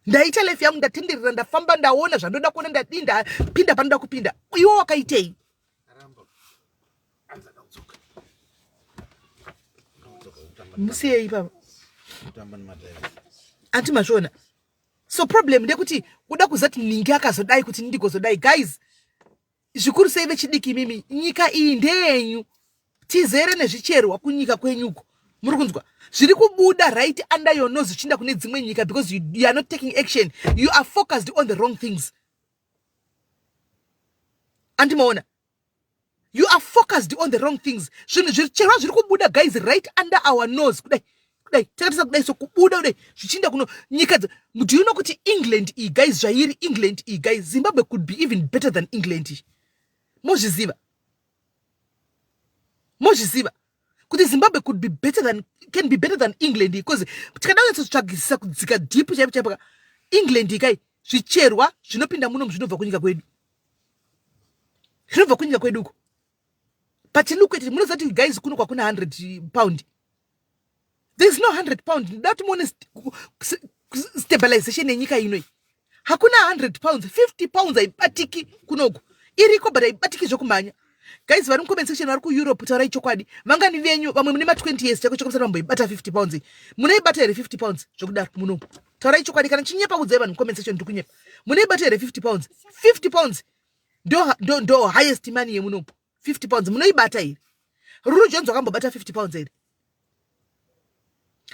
Ndaita life yangu ndatenderera ndafamba ndaona zvandoda kuona ndadii ndapinda panoda kupinda. Iwe wakaitei? Musiyei baba. Anti mazvona. So problem ndekuti kuda kuzati ningi akazodai kuti ndigozodai guys. zvikuru sei vechidiki imimi nyika iyi ndeyenyu tizere nezvicherwa kunyika kwenyuko muri kunzwa zviri kubuda right under your nose zvichiinda kune dzimwe nyika because you, you are not taking action you are focused on the wrong things andimaona you are focused on the wrong things zvinhu zvicherwa zviri kubuda guys right under our nose kudai kudai takatisa kudai so kubuda kudai zvichienda kuno nyika do you know kuti england iyi guys zvairi england iyi guys zimbabwe could be even better than england iyi mozviziva mozviziva kuti zimbabwe could be better than can be better than england iyi bcause tikada kunyatsotsvagisisa kudzika deep chaipo chaipo ka england iyi kai zvicherwa zvinopinda munomu zvinobva kunyika kwedu zvinobva kunyika kwedu uko but look at it munoziva kuti guys kuno kwakuna 100 pound there is no 100 pound ndoda kuti muone stabilization yenyika inoi hakuna 100 pounds 50 pounds haibatiki kunoku iriko but haibatiki zvekumhanya guys vari mucomment section vari kueurope taurai chokwadi vangani venyu vamwe mune ma20 years chako chako vamboibata 50 pounds munoibata here 50 pounds zvekudaro muno taurai chokwadi kana chinyepa kudzai vanhu mucomment section ndikunyepa munoibata here 50 pounds 50 pounds ndo, ndo, ndo highest money yemunopo 50 pounds munoibata here ruru jones wakambobata 50 pounds here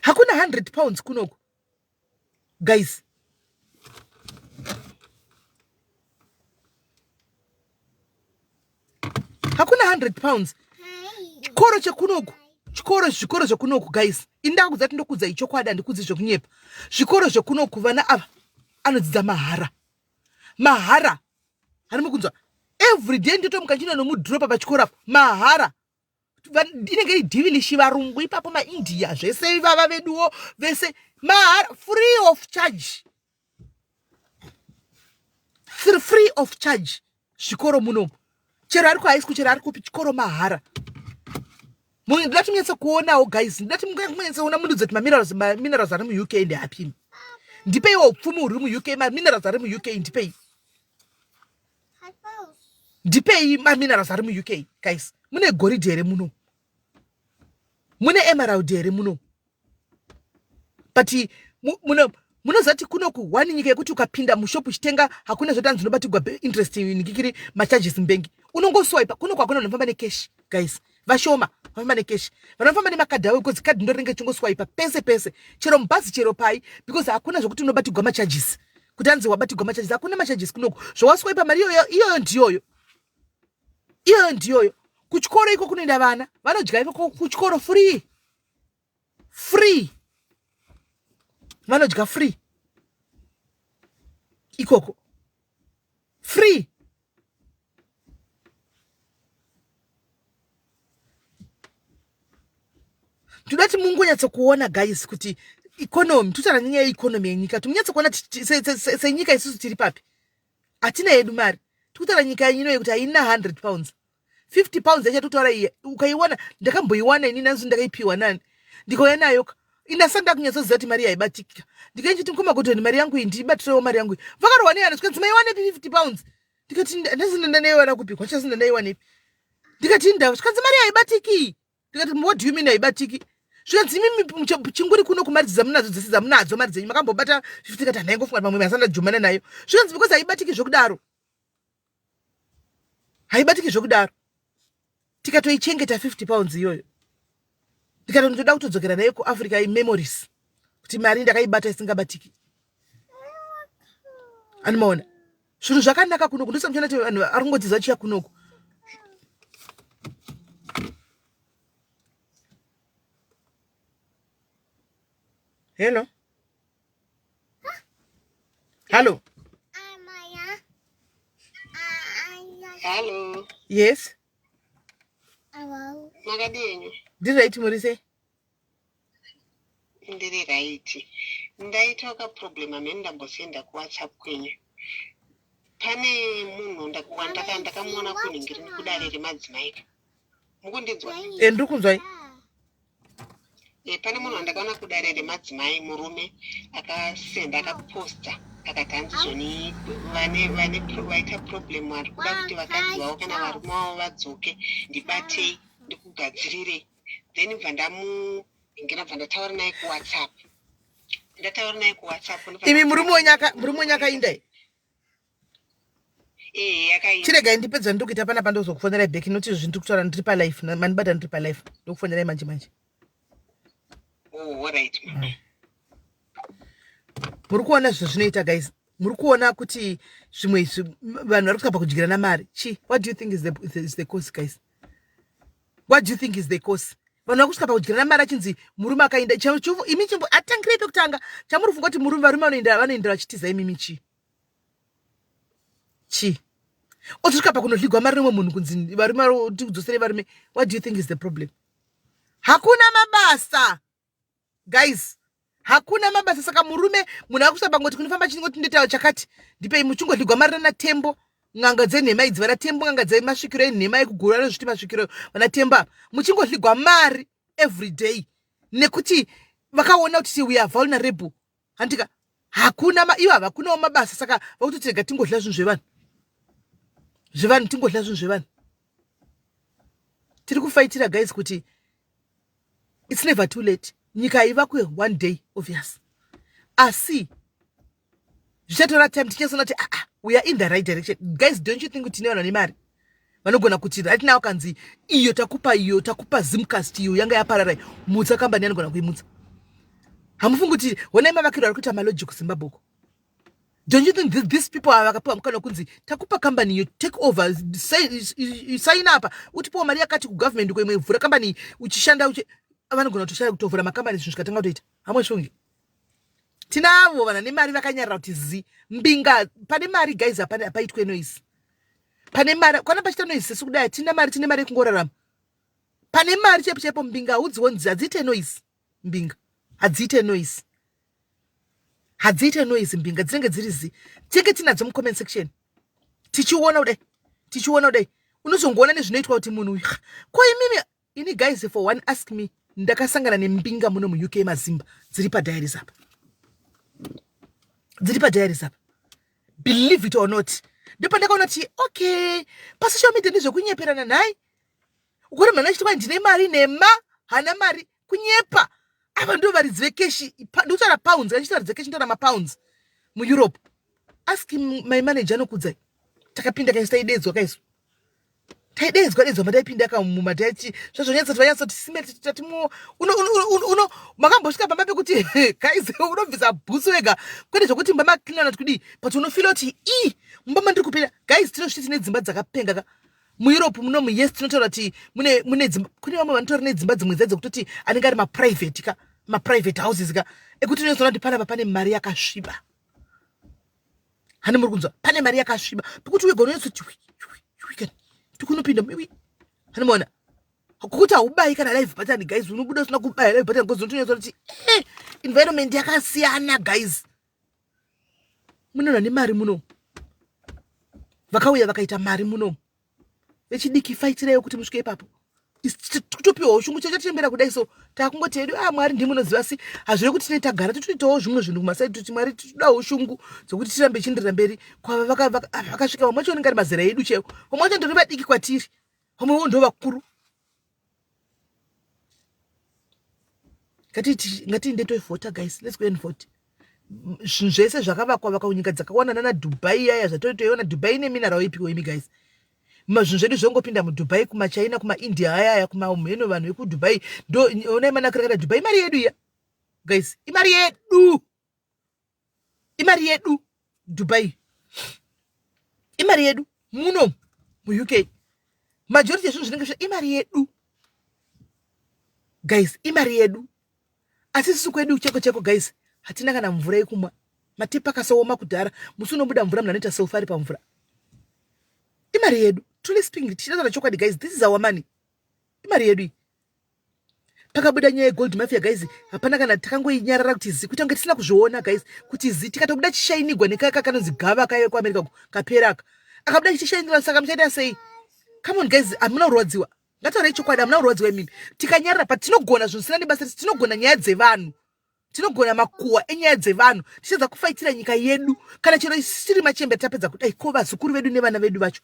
hakuna 100 pounds kunoku guys hakuna 100 pounds chikoro chekunoku chikoro zvikoro zvekunoku guys ini ndakakudza kuti ndokudzai chokwadi handikudzi zvekunyepa zvikoro zvekunoku vana ava anodzidza mahara mahara Hani mukunzwa? Every day ndotomuka ndino nomudropa pachikora mahara. Inenge iri divilishi varungu ipapo maIndia zvese ivava veduwo vese mahara free of charge. Free of charge zvikoro munomu. Chero ari kuhigh school chero ari kupi chikoro mahara. Ndinoda tinyatsa kuonawo guys, ndinoda tinyatsa kuona munhu dzati maminerals maminerals ari mu UK and happy. Ndipei wo pfumo uri mu UK, maminerals ari mu UK ndipei. Ndipei maminerals ari mu UK guys. Mune goridhe here muno? Mune emerald here muno? but muno munozati kuno kuhwani nyika yekuti ukapinda mushop uchitenga hakuna zvatanzi unobatigwa interest nikikiri macharges mbengi unongoswipa kuno kwakuna vanofamba necash guys vashoma vanofamba necash vanofamba nemakadhi avo because kadhi ndorinenge chingoswipa pese pese chero mubhazi chero pai because hakuna zvekuti unobatigwa macharges kuti anzi wabatigwa macharges hakuna macharges kunoko zvawaswipa mari iyoyo iyoyo ndiyoyo iyoyo ndiyoyo kuchikoro iko kunoenda vana vanodya iko kuchikoro free free vanodya free ikoko free tinoda kuti mungonyatsokuona guys kuti economy tutaura nyaya yeeconomy yenyika kuti munyatsokuona senyika isusu tiri papi hatina yedu mari tikutaura nyika yenyino yekuti haina 100 pounds 50 pounds yachatotaura iye ukaiwana ndakamboiwana ini nanzi ndakaipiwa nani ndikauya nayo ka inasanda kunyatsoziva kuti mari yaibatikika ndikaichiti mukoma godhoni mari yangu iyi ndiibatirewo mari yangu iyi vakarohwa neyana zvikanzi maiwanepi 50 pounds ndikati ndazinda ndaiwana kupi kwachazinda ndaiwanepi ndikati ndava zvikanzi mari yaibatiki ndikati what do you mean haibatiki zvikanzi imimi chinguri kuno kumari dzamunadzo dzese dzamunadzo mari dzenyu makambobata 50 kati handaingofunga kuti mamwe masanda jumana nayo zvikanzi because haibatiki zvokudaro haibatiki zvekudaro tikatoichengeta 50 pounds iyoyo ndikatotoda kutodzokera nayo kuafrica imemories kuti mari ndakaibata isingabatiki anomaona zvinhu zvakanaka kunoku ndosamuchona ti vanhu ari kungodzidza chiya kunoku hello Hello. Hello. Yes. Hello. Makadini? Ndiri right muri sei? Ndiri right. Ndaita ka problem amene ndambosenda ku WhatsApp kwenyu. Pane munhu ndakuwa ndaka ndakamuona kuningiri kudare remadzimai. Mukundinzwa? Eh ndiri kunzwai. Eh, pane munhu wandakaona kudare remadzimai murume akasenda akaposta akati hanzi zvoni vane vane pro- vaita problem vari kuda kuti vakadzi vavo kana varume vavo vadzoke ndibatei ndikugadzirire then bva ndamuhengera bva ndataura naye kuwhatsapp ndataura naye kuwhatsapp ndobva imi murume wenyu aka- murume wenyu akainda here? chiregai ndipe dzandiri kuita panapa ndozokufonerai back noti izvo zvindiri kutaura ndiri palife mandibata ndiri palife ndokufonerai manje manje oh, mm. muri kuona zvinhu zvinoita guys muri kuona kuti zvimwe izvi vanhu vari kusvika pakudyirana mari chi what do you think is the, is the, is the cause guys what do you think is the cause vanhu vari kusvika pakudyirana mari achinzi murume akaenda imi chimbo atangirei pekutanga chamuri funga kuti murume varume vanoenda vanoendera vachitiza imimi chii Chii? Otosvika pakunodhligwa marume umwe munhu kunzi varume tiudzosere varume. What do you think is the problem? Hakuna mabasa. Guys, hakuna mabasa saka murume munhu akusaba ngoti kunofamba chingoti ndotaura chakati ndipei muchingodhligwa marira natembo n'anga dzenhema idzi vana tembo n'anga dzemasvikiro enhema ekugura anozviti masvikiro vana tembo ava muchingodhligwa mari every day nekuti vakaona kuti we are vulnerable handika hakuna ma, ivo havakunawo mabasa saka vakutoti rega tingodya zvinhu zvevanhu zvevanhu tingodya zvinhu zvevanhu tiri kufaitira guys kuti its never too late nyika haivakwe one day obvious asi zvichatora time tichasona kuti aa ah, ah, we are in the right direction guys don't you think kuti tine vanhu vane mari vanogona kuti right now kanzi iyo takupa iyo takupa zimcast iyo yanga yaparara mutsa kambani anogona kuimutsa hamufungi kuti honai mavakiro ari kuita maloji kuzimbabwe uko don't you think this, these people ava vakapiwa mukana wekunzi takupa kambani iyo take over saina apa utipiwa mari yakati kugovernment uko imwe vhura kambani uchishanda uchi vanogona kutoshaya kutovhura makambani zvinhu zvikatanga kutoita hamwe shungi tinavo vanhu vane mari vakanyarira kuti zi mbinga pane mari guys hapane hapaitwe noise pane mari kwana pachita noise sesu kudai hatina mari tine mari yekungorarama pane mari chaipo chaipo mbinga haudziwo nzi hadziite noise mbinga hadziite noise hadziite noise mbinga dzinenge dziri zi tenge tinadzo mucomment section tichiona kudai tichiona kudai unozongoona nezvinoitwa kuti munhu uyu ko imimi Ini guys for one ask me ndakasangana nembinga muno muUK mazimba dziri padiaries apa. Dziri padiaries apa. Believe it or not. Ndopandakaona kuti okay pasocial media ndezvekunyeperana nhai. Ukuri mwana chitwa ndine mari nema hana mari kunyepa. Ava ndo varidzi vekeshi ndikutaura pounds kana chitaridzi keshi ndora mapounds muEurope. Ask my manager anokudzai. Takapinda kaisa idedzwa kaisu. taideedzwa deedzwa mataipinda ka muma taichi zvazvonyatsa tivanyatsa kuti sime tatimo uno uno makambosvika pamba pekuti guys unobvisa bhutsu wega kwete zvokuti mba maklinana kuti kudii but unofila kuti i mumba mandiri kupinda guys tinosviti tine dzimba dzakapenga ka mueurope munomu yes tinotaura kuti mune mune dzimba kune vamwe vanotaura nedzimba dzimwe dzaidzo kutoti anenge ari maprivate ka maprivate houses ka ekuti unozoona kuti panapa pane mari yakasviba hani muri kunzwa pane mari yakasviba pekuti wega unonatso chiwikani tikunopinda miwi hani maona kuti haubayi kana live button guys unobuda usina kubaya live button because unotonyatsa kuti eh, environment yakasiyana guys munoona nemari muno vakauya vakaita mari muno vechidiki faitiraiwo kuti musvike ipapo kutopiwa ushungu chete tichembera kudai so takungoti hedu a ah, mwari ndimi unoziva si hazvire kuti tine tagara titoitawo zvimwe zvinhu kumasaidi kuti mwari titodawo ushungu dzokuti tirambe chindirira mberi kwava ah, vakasvika vamwe vacho vanenge ari mazera edu chaiwo vamwe vacho ndori vadiki kwatiri vamwewo ndo vakuru ngatiende tovhota guys let's go and vote zvinhu zvese zvakavakwa vakwa kunyika dzakawanda nana dubai yaya zvatoi toiona dubai ine minarao ipiwo imi guys mazvinhu zvedu zvongopinda mudubai kumachina kumaindia ayaya kumamheno vanhu vekudubai ndoonai manakirakada dubai imari yedu iya guys imari yedu imari yedu dubai imari yedu muno muuk majority ezvinhu zvinenge zve imari yedu guys imari yedu asi sisu kwedu cheko cheko guys hatina kana mvura yekumwa matepa akasaoma kudhara musi unobuda mvura munhu anoita self ari pamvura imari yedu truly speaking tichitaura chokwadi guys this is our money imari yedu iyi pakabuda nyaya yegold mafia guys hapana kana takangoinyarara kuti zi kuita kunge tisina kuzviona guys kuti zi tikatobuda chishainigwa nekaka kanonzi gava kaive kuamerica ko kapera aka akabuda chichishainigwa saka muchaita sei come on guys hamuna kurwadziwa ngataurai chokwadi hamuna kurwadziwa imimi tikanyarara patinogona zvinosina nebasa tinogona nyaya dzevanhu Tinogona makuhwa enyaya dzevanhu tichedza kufaitira nyika yedu kana chero isu tiri machembe tapedza kudai ko vazukuru vedu nevana vedu vacho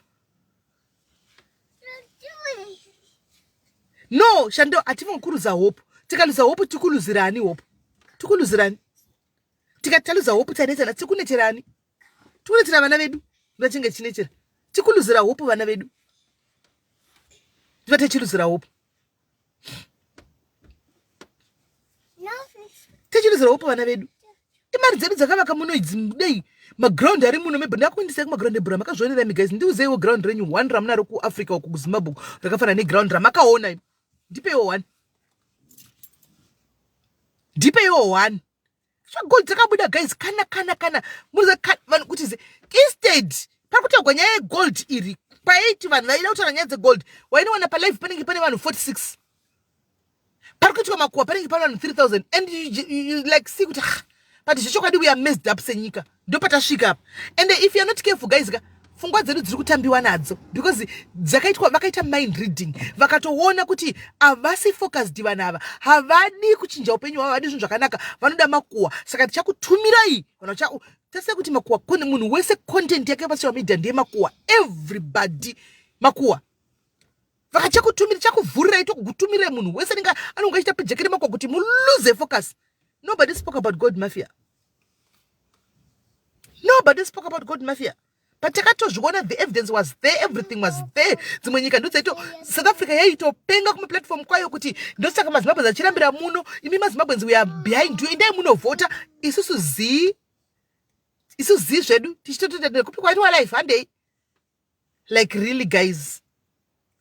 no shando hativongi kuruza hope tikaluza hope tikuluzirani hope tikuluzirani tikati taluza hope tanetana tikuneterani tikunetsera vana vedu ndovachinge tichinechera tikuluzira hope vana vedu tiva tichiluzira hope tichiluzira hope vana vedu imari dzedu dzakavaka muno idzi dei maground ari muno mebho ndakuendesai kumaground ebhura makazvionera mi guys ndiuzeiwo ground renyu one ramunaro kuafrica uku kuzimbabwe rakafanana neground ramakaona ndipeiwo one ndipeiwo one Gold dzakabuda guys kana kana kana muriza vanhu kuti ze instead pari kutaurwa nyaya yegold iri paiti vanhu vaida kutaura nyaya dzegold wainowana palive panenge pane vanhu 46 pari kuitwa makuwa panenge pane vanhu 3000 and you, you, you like see kuti ah, but zvechokwadi we are messed up senyika ndopatasvika apa and if you're not careful guys ka fungwa dzedu dziri kutambiwa nadzo because dzakaitwa vakaita mind reading vakatoona kuti havasi focused vanhu ava havadi kuchinja upenyu hwavo havadi zvinhu zvakanaka vanoda makuwa saka tichakutumirai kana tese kuti makuwa munhu wese content yake pasocial media ndeye makuwa everybody makuwa vakachakutumira chakuvhurira ito kukutumira munhu wese ninga anonga achita pijekere mako kuti mulose focus nobody spoke about god mafia nobody spoke about god mafia but takatozviona the evidence was there everything was there dzimwe nyika ndodzaito south africa yaitopenga kumaplatform kwayo kuti ndosaka mazimbabwe zachirambira muno imi mazimbabwens weare behind you endai munovhota isusu zii isu zii zvedu tichitototatira kupi kwaitwa life handei like really guys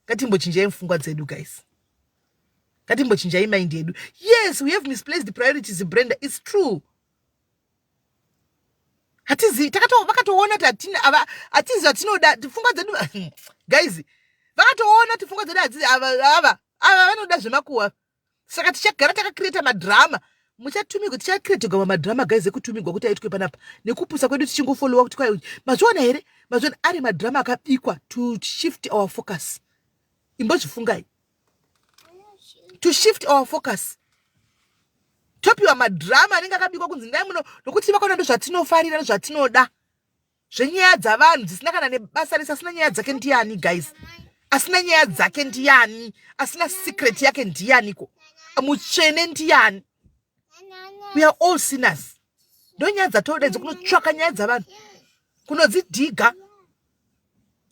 ngatimbochinjai mfungwa dzedu guys ngatimbochinjai mind yedu yes we have misplaced the priorities brenda its true hatizivi vakatoona kuti hatizivi atinoda pfungwa dzedu guys vakatoona kuti pfungwa dzedu hatizi ava ava ava vanoda zvemakuwa saka tichagara takacreata madrama muchatumigwa tichacreatigwa mamadrama guys ekutumigwa kuti aitwe panapa nekupusa kwedu tichingofolowa kuti kwai mazviona here mazviona ari madrama akabikwa to shift our focus imbozvifungai to shift our focus topiwa madrama anenge akabikwa kunzi ndai muno nokuti vakaona ndozvatinofarira nezvatinoda zvenyaya dzavanhu dzisina kana nebasa rese asina nyaya dzake ndiyani guys asina nyaya dzake ndiyani asina secret yake ndiyaniko mutsvene ndiyani we are all sinners ndonyaya dzatoda idzo kunotsvaka nyaya dzavanhu kunodzidhiga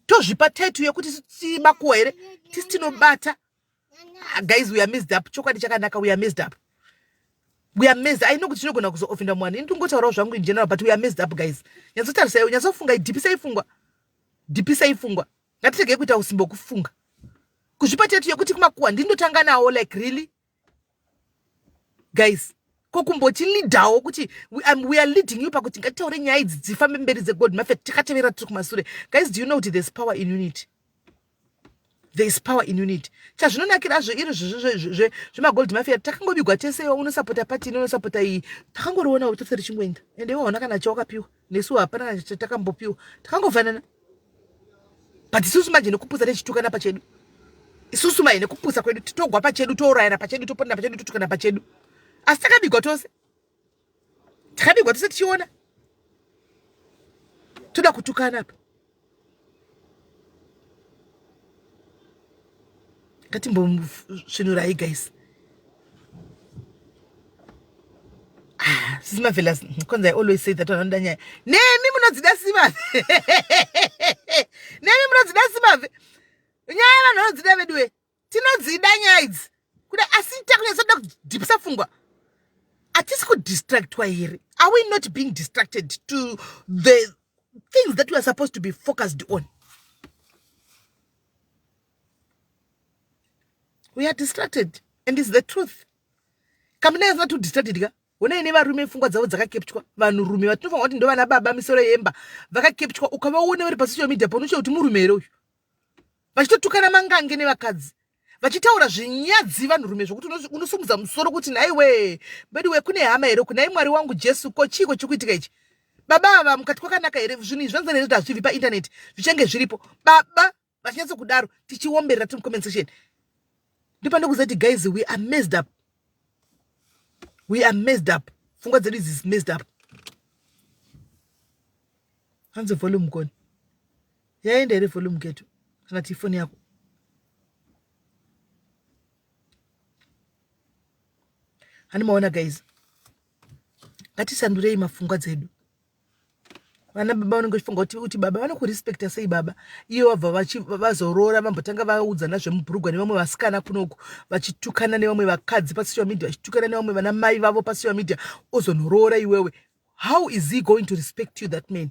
tozvipa taitu yekuti timakuwa here tisi tinobata Ah, guys we are messed up chokwadi chakanaka we are messed up we are messed i know kuti chinogona kuzoofenda mwana ini ndingotaurawo zvangu in general but we are messed up guys nyatsotarisai nyatsofunga dhipisai fungwa dhipisai fungwa ngatiregei kuita usimbo kufunga kuzvipa tetu yekuti kumakuwa ndindotanga nawo like really guys ko kumboti leaderwo kuti we, um, we are leading you pakuti ngatitaure nyaya idzi dzifambe mberi dzegod mafet tikatevera tiri kumasure guys do you know kuti there's power in unity there is power in unity chazvinonakirazvo iri zvemagold mafia takangobigwa tese unosapota pati ini unosapota iyi takangoriona kuti tose richingoenda ende iwaona kana chawakapiwa nesu hapana chatakambopiwa takangofanana but isusu manje nekupusa tichitukana pachedu isusu manje nekupusa kwedu titogwa pachedu tourayana pachedu toponana pachedu totukana pachedu asi takabigwa tose takabigwa tose tichiona toda kutukana apa ngatimbomusvinurai guys ah, sisi mavelas because i always say that vanoda nyaya nemi munodzida simave nemi munodzida simave nyaya vanhu vanodzida veduwe tinodzida nyaya idzi kuda asi takunyatsoda kudhipisa fungwa hatisi kudistractwa here are we not being distracted to the things that we are supposed to be focused on we are distracted and is the truth kamina yasina to distracted ka honai nevarume pfungwa dzavo dzakakepchwa vanhurume vatinofanwa kuti ndo vana baba misoro yemba vakakepchwa ukavaone vari pasocial media paunochita kuti murume here uyu vachitotukana mangange nevakadzi vachitaura zvinyadzi vanhurume zvokuti unosumudza musoro kuti nhaiwe veduwe kune hama here kunai mwari wangu jesu ko chiiko chiri kuitika ichi baba ava mukati kwakanaka here zvinhu izvi zvanzana here kuti hazvibvi paintaneti zvichange zviripo baba vachinyatsokudaro tichiomberera tiri comment section ndipande kuzati guys we are messed up we are messed up pfungwa dzedu idzi is messed up hanzi volume koni yaenda here volume geto kana ti ifoni yako handimaona guys ngatisandurei mafungwa dzedu vana baba vanenge vachifunga kuti kuti baba vanokurespecta sei baba iye wabva vazoroora vambotanga vaudzana zvemubhurugwa nevamwe vasikana kunoku vachitukana nevamwe vakadzi pasocial media vachitukana nevamwe vana mai vavo pasocial media ozonoroora iwewe how is he going to respect you that man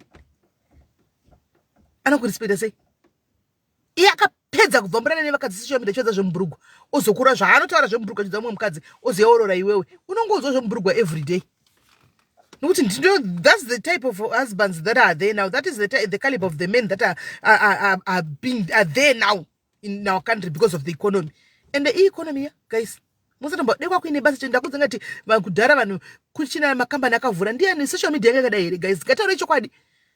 anokurespecta sei iye akapedza kubva murana nevakadzi seshomi ndachivedza zvemubhurugwa ozokura zvaanotaura zvemubhurugwa chiudza mumwe mukadzi ozeorora iwewe unongonzwa zvemubhurugwa every day nokuti ndindo thats the type of husbands that are there now that is the, the caliber of the men that are, are, are, are, being, are there now in our country because of the economy and the economy yeah, guys musatombwa dekwa kuine basa chete ndakudza ngati kudhara vanhu kuchina makambani akavhura ndiyani social media yanga yakadai here guys ngataure chokwadi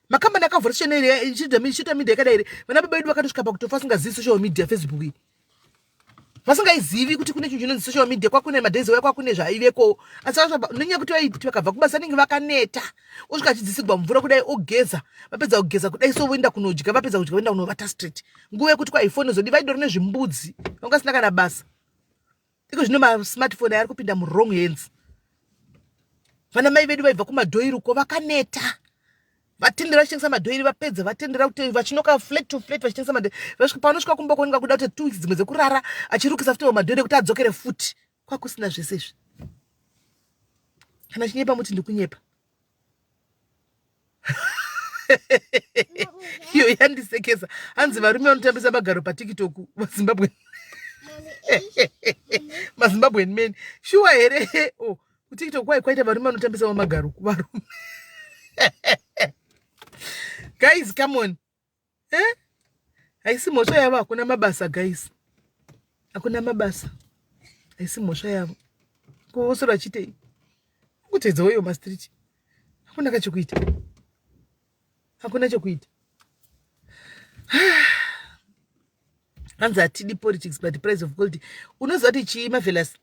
makambani akavhura social media social media yakadai here vana baba vedu vakatosvika pakutofa asingazivi social media facebook iyi vasingaizivi kuti kune chinhu chinonzi social media kwakune madays waya kwakune zvaiveko asi nenyaya yekuti vaiti vakabva kubasa anenge vakaneta osvika achidzisigwa mvura kudai ogeza vapedza kugeza kudai so voenda kunodya vapedza kudya voenda kunovata street nguva yekuti kwaifoni zodi vaidoro nezvimbudzi vanga vasina kana basa iko zvino masmartphone ari kupinda muwrong hands vana mai vedu vaibva kumadhoiri uko vakaneta vatendera vachitengesa madhoiri vapedza vatendera kuti vachinoka flat to flat vachitengesa madhoiri vasvika pavanosvika kumba kuoneka kuda kuti two weeks dzimwe dzekurara achirukisa futi madhoiri ekuti adzokere futi kwakusina zvese izvi kana chinyepa muti ndikunyepa iyo yandisekesa hanzi varume vanotambisa magaro patiktok vazimbabwe mazimbabwen men shuwa here o oh, kutiktok kwai kwaita varume vanotambisawo magaro kuvarume guys come on eh? haisi mhosva yavo hakuna mabasa guys hakuna mabasa haisi mhosva yavo kuvosora chitei kutedza uyo mastreet hakuna kachekuita hakuna chekuita hanzi hatidi politics but price of gold unoziva kuti chii mavelas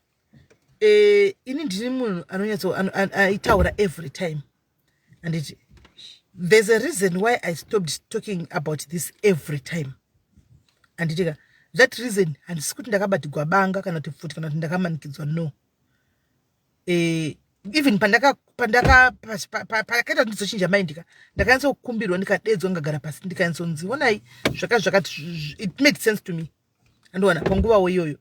eh, ini ndini munhu anonyatso aitaura every time handiti there's a reason why i stopped talking about this every time handitika that reason handisi kuti ndakabatigwa banga kana kuti pfuti kana kuti ndakamanikidzwa no eh, even pandaka pandaka pakaita ndizochinja maindika ndakanyatsa kukumbirwa ndikadedzwa ndikagara pasi ndikanyatsonzi onai zvaka zvakati it made sense to me andiwana panguvawo iyoyo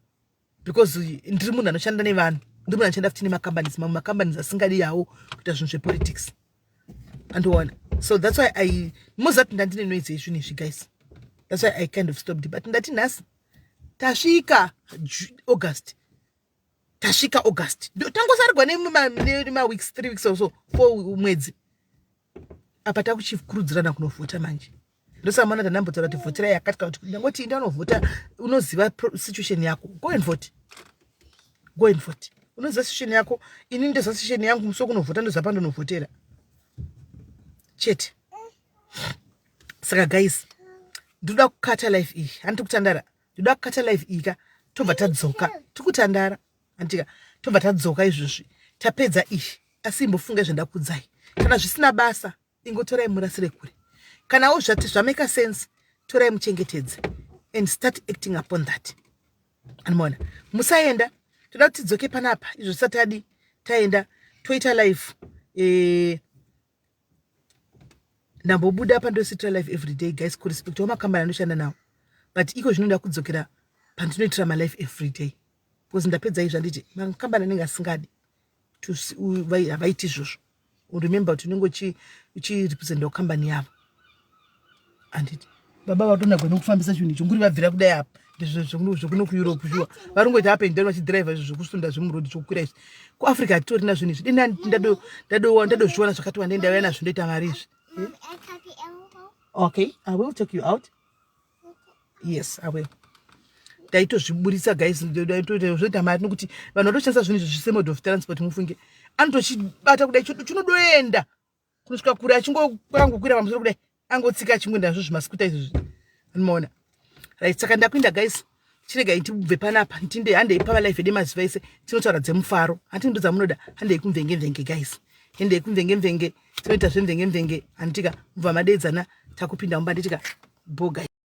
because ndiri munhu anoshanda nevanhu ndiri munhu anoshanda futi nemacompanies mamwe macompanies asingadi yawo kuita zvinhu zvepolitics andiona so that's why i mozati ndandine noise yezvinhu izvi guys that's why i kind of stopped but ndati nhasi tasvika august tasvika august tangosarigwa nemaweeks three weeks or so four mwedzi apa takuchikurudzirana kunovhota manje ndosamana tanambotaura kuti vhoterai yakati kana kuti ndangoti indi anovhota unoziva situation yako go and vote go and vote unoziva situation yako ini ndoziva situation yangu musi wekunovhota ndoziva pandonovhotera chete saka guys ndoda kukata life iyi handiti kutandara ndoda kukata life iyi ka tobva tadzoka tikutandara andika tobva tadzoka izvozvi tapedza izvi asi imbofunga zvandakudzai kana zvisina basa ingotorai murasire kure kanawo zvati zvameka sense torai muchengetedze and start acting upon that animoona musaenda toda kuti tidzoke panapa izvo tisati adi taenda toita life eh, ndambobuda apa ndositra life everyday guys kurespect wamakambani anoshanda nawo but iko zvino ndakudzokera pandinoitira malife everyday because ndapedza izvi anditi makambani anenge asingadi havaiti izvozvo remember kuti unenge uchirepresentawo kambani yavo handiti baba vatonagwa nekufambisa chinhu icho nguri vabvira kudai apa zvekuno kueurope shuwa vari ngoita up and down vachidhiraivha izvi zvekusunda zvemurodi chokukwira izvi kuafrica hatitorina zvinhu izvi dini ndadozviona zvakati wandei ndauya nazvo ndoita mari izvi okay i will take you out yes i will taitozviburitsa guys zvoita mari nokuti vanhu vatoshandisa zvinhu izvi zvisemode of transport mufunge anotochibata kudai chinodoenda kunosvika kure achingoangokwira pamusoro kudai angotsika achingoenda nazvo zvimasikuta izvozvi anomaona right saka ndakuinda guys chirega itibve panapa ntinde handei pava life ede maziva ese tinotaura dzemufaro hati ndo dzamunoda handei kumvenge mvenge guys handei kumvenge mvenge tinoita zvemvenge mvenge handitika mubva madedzana takupinda mumba nditika bogai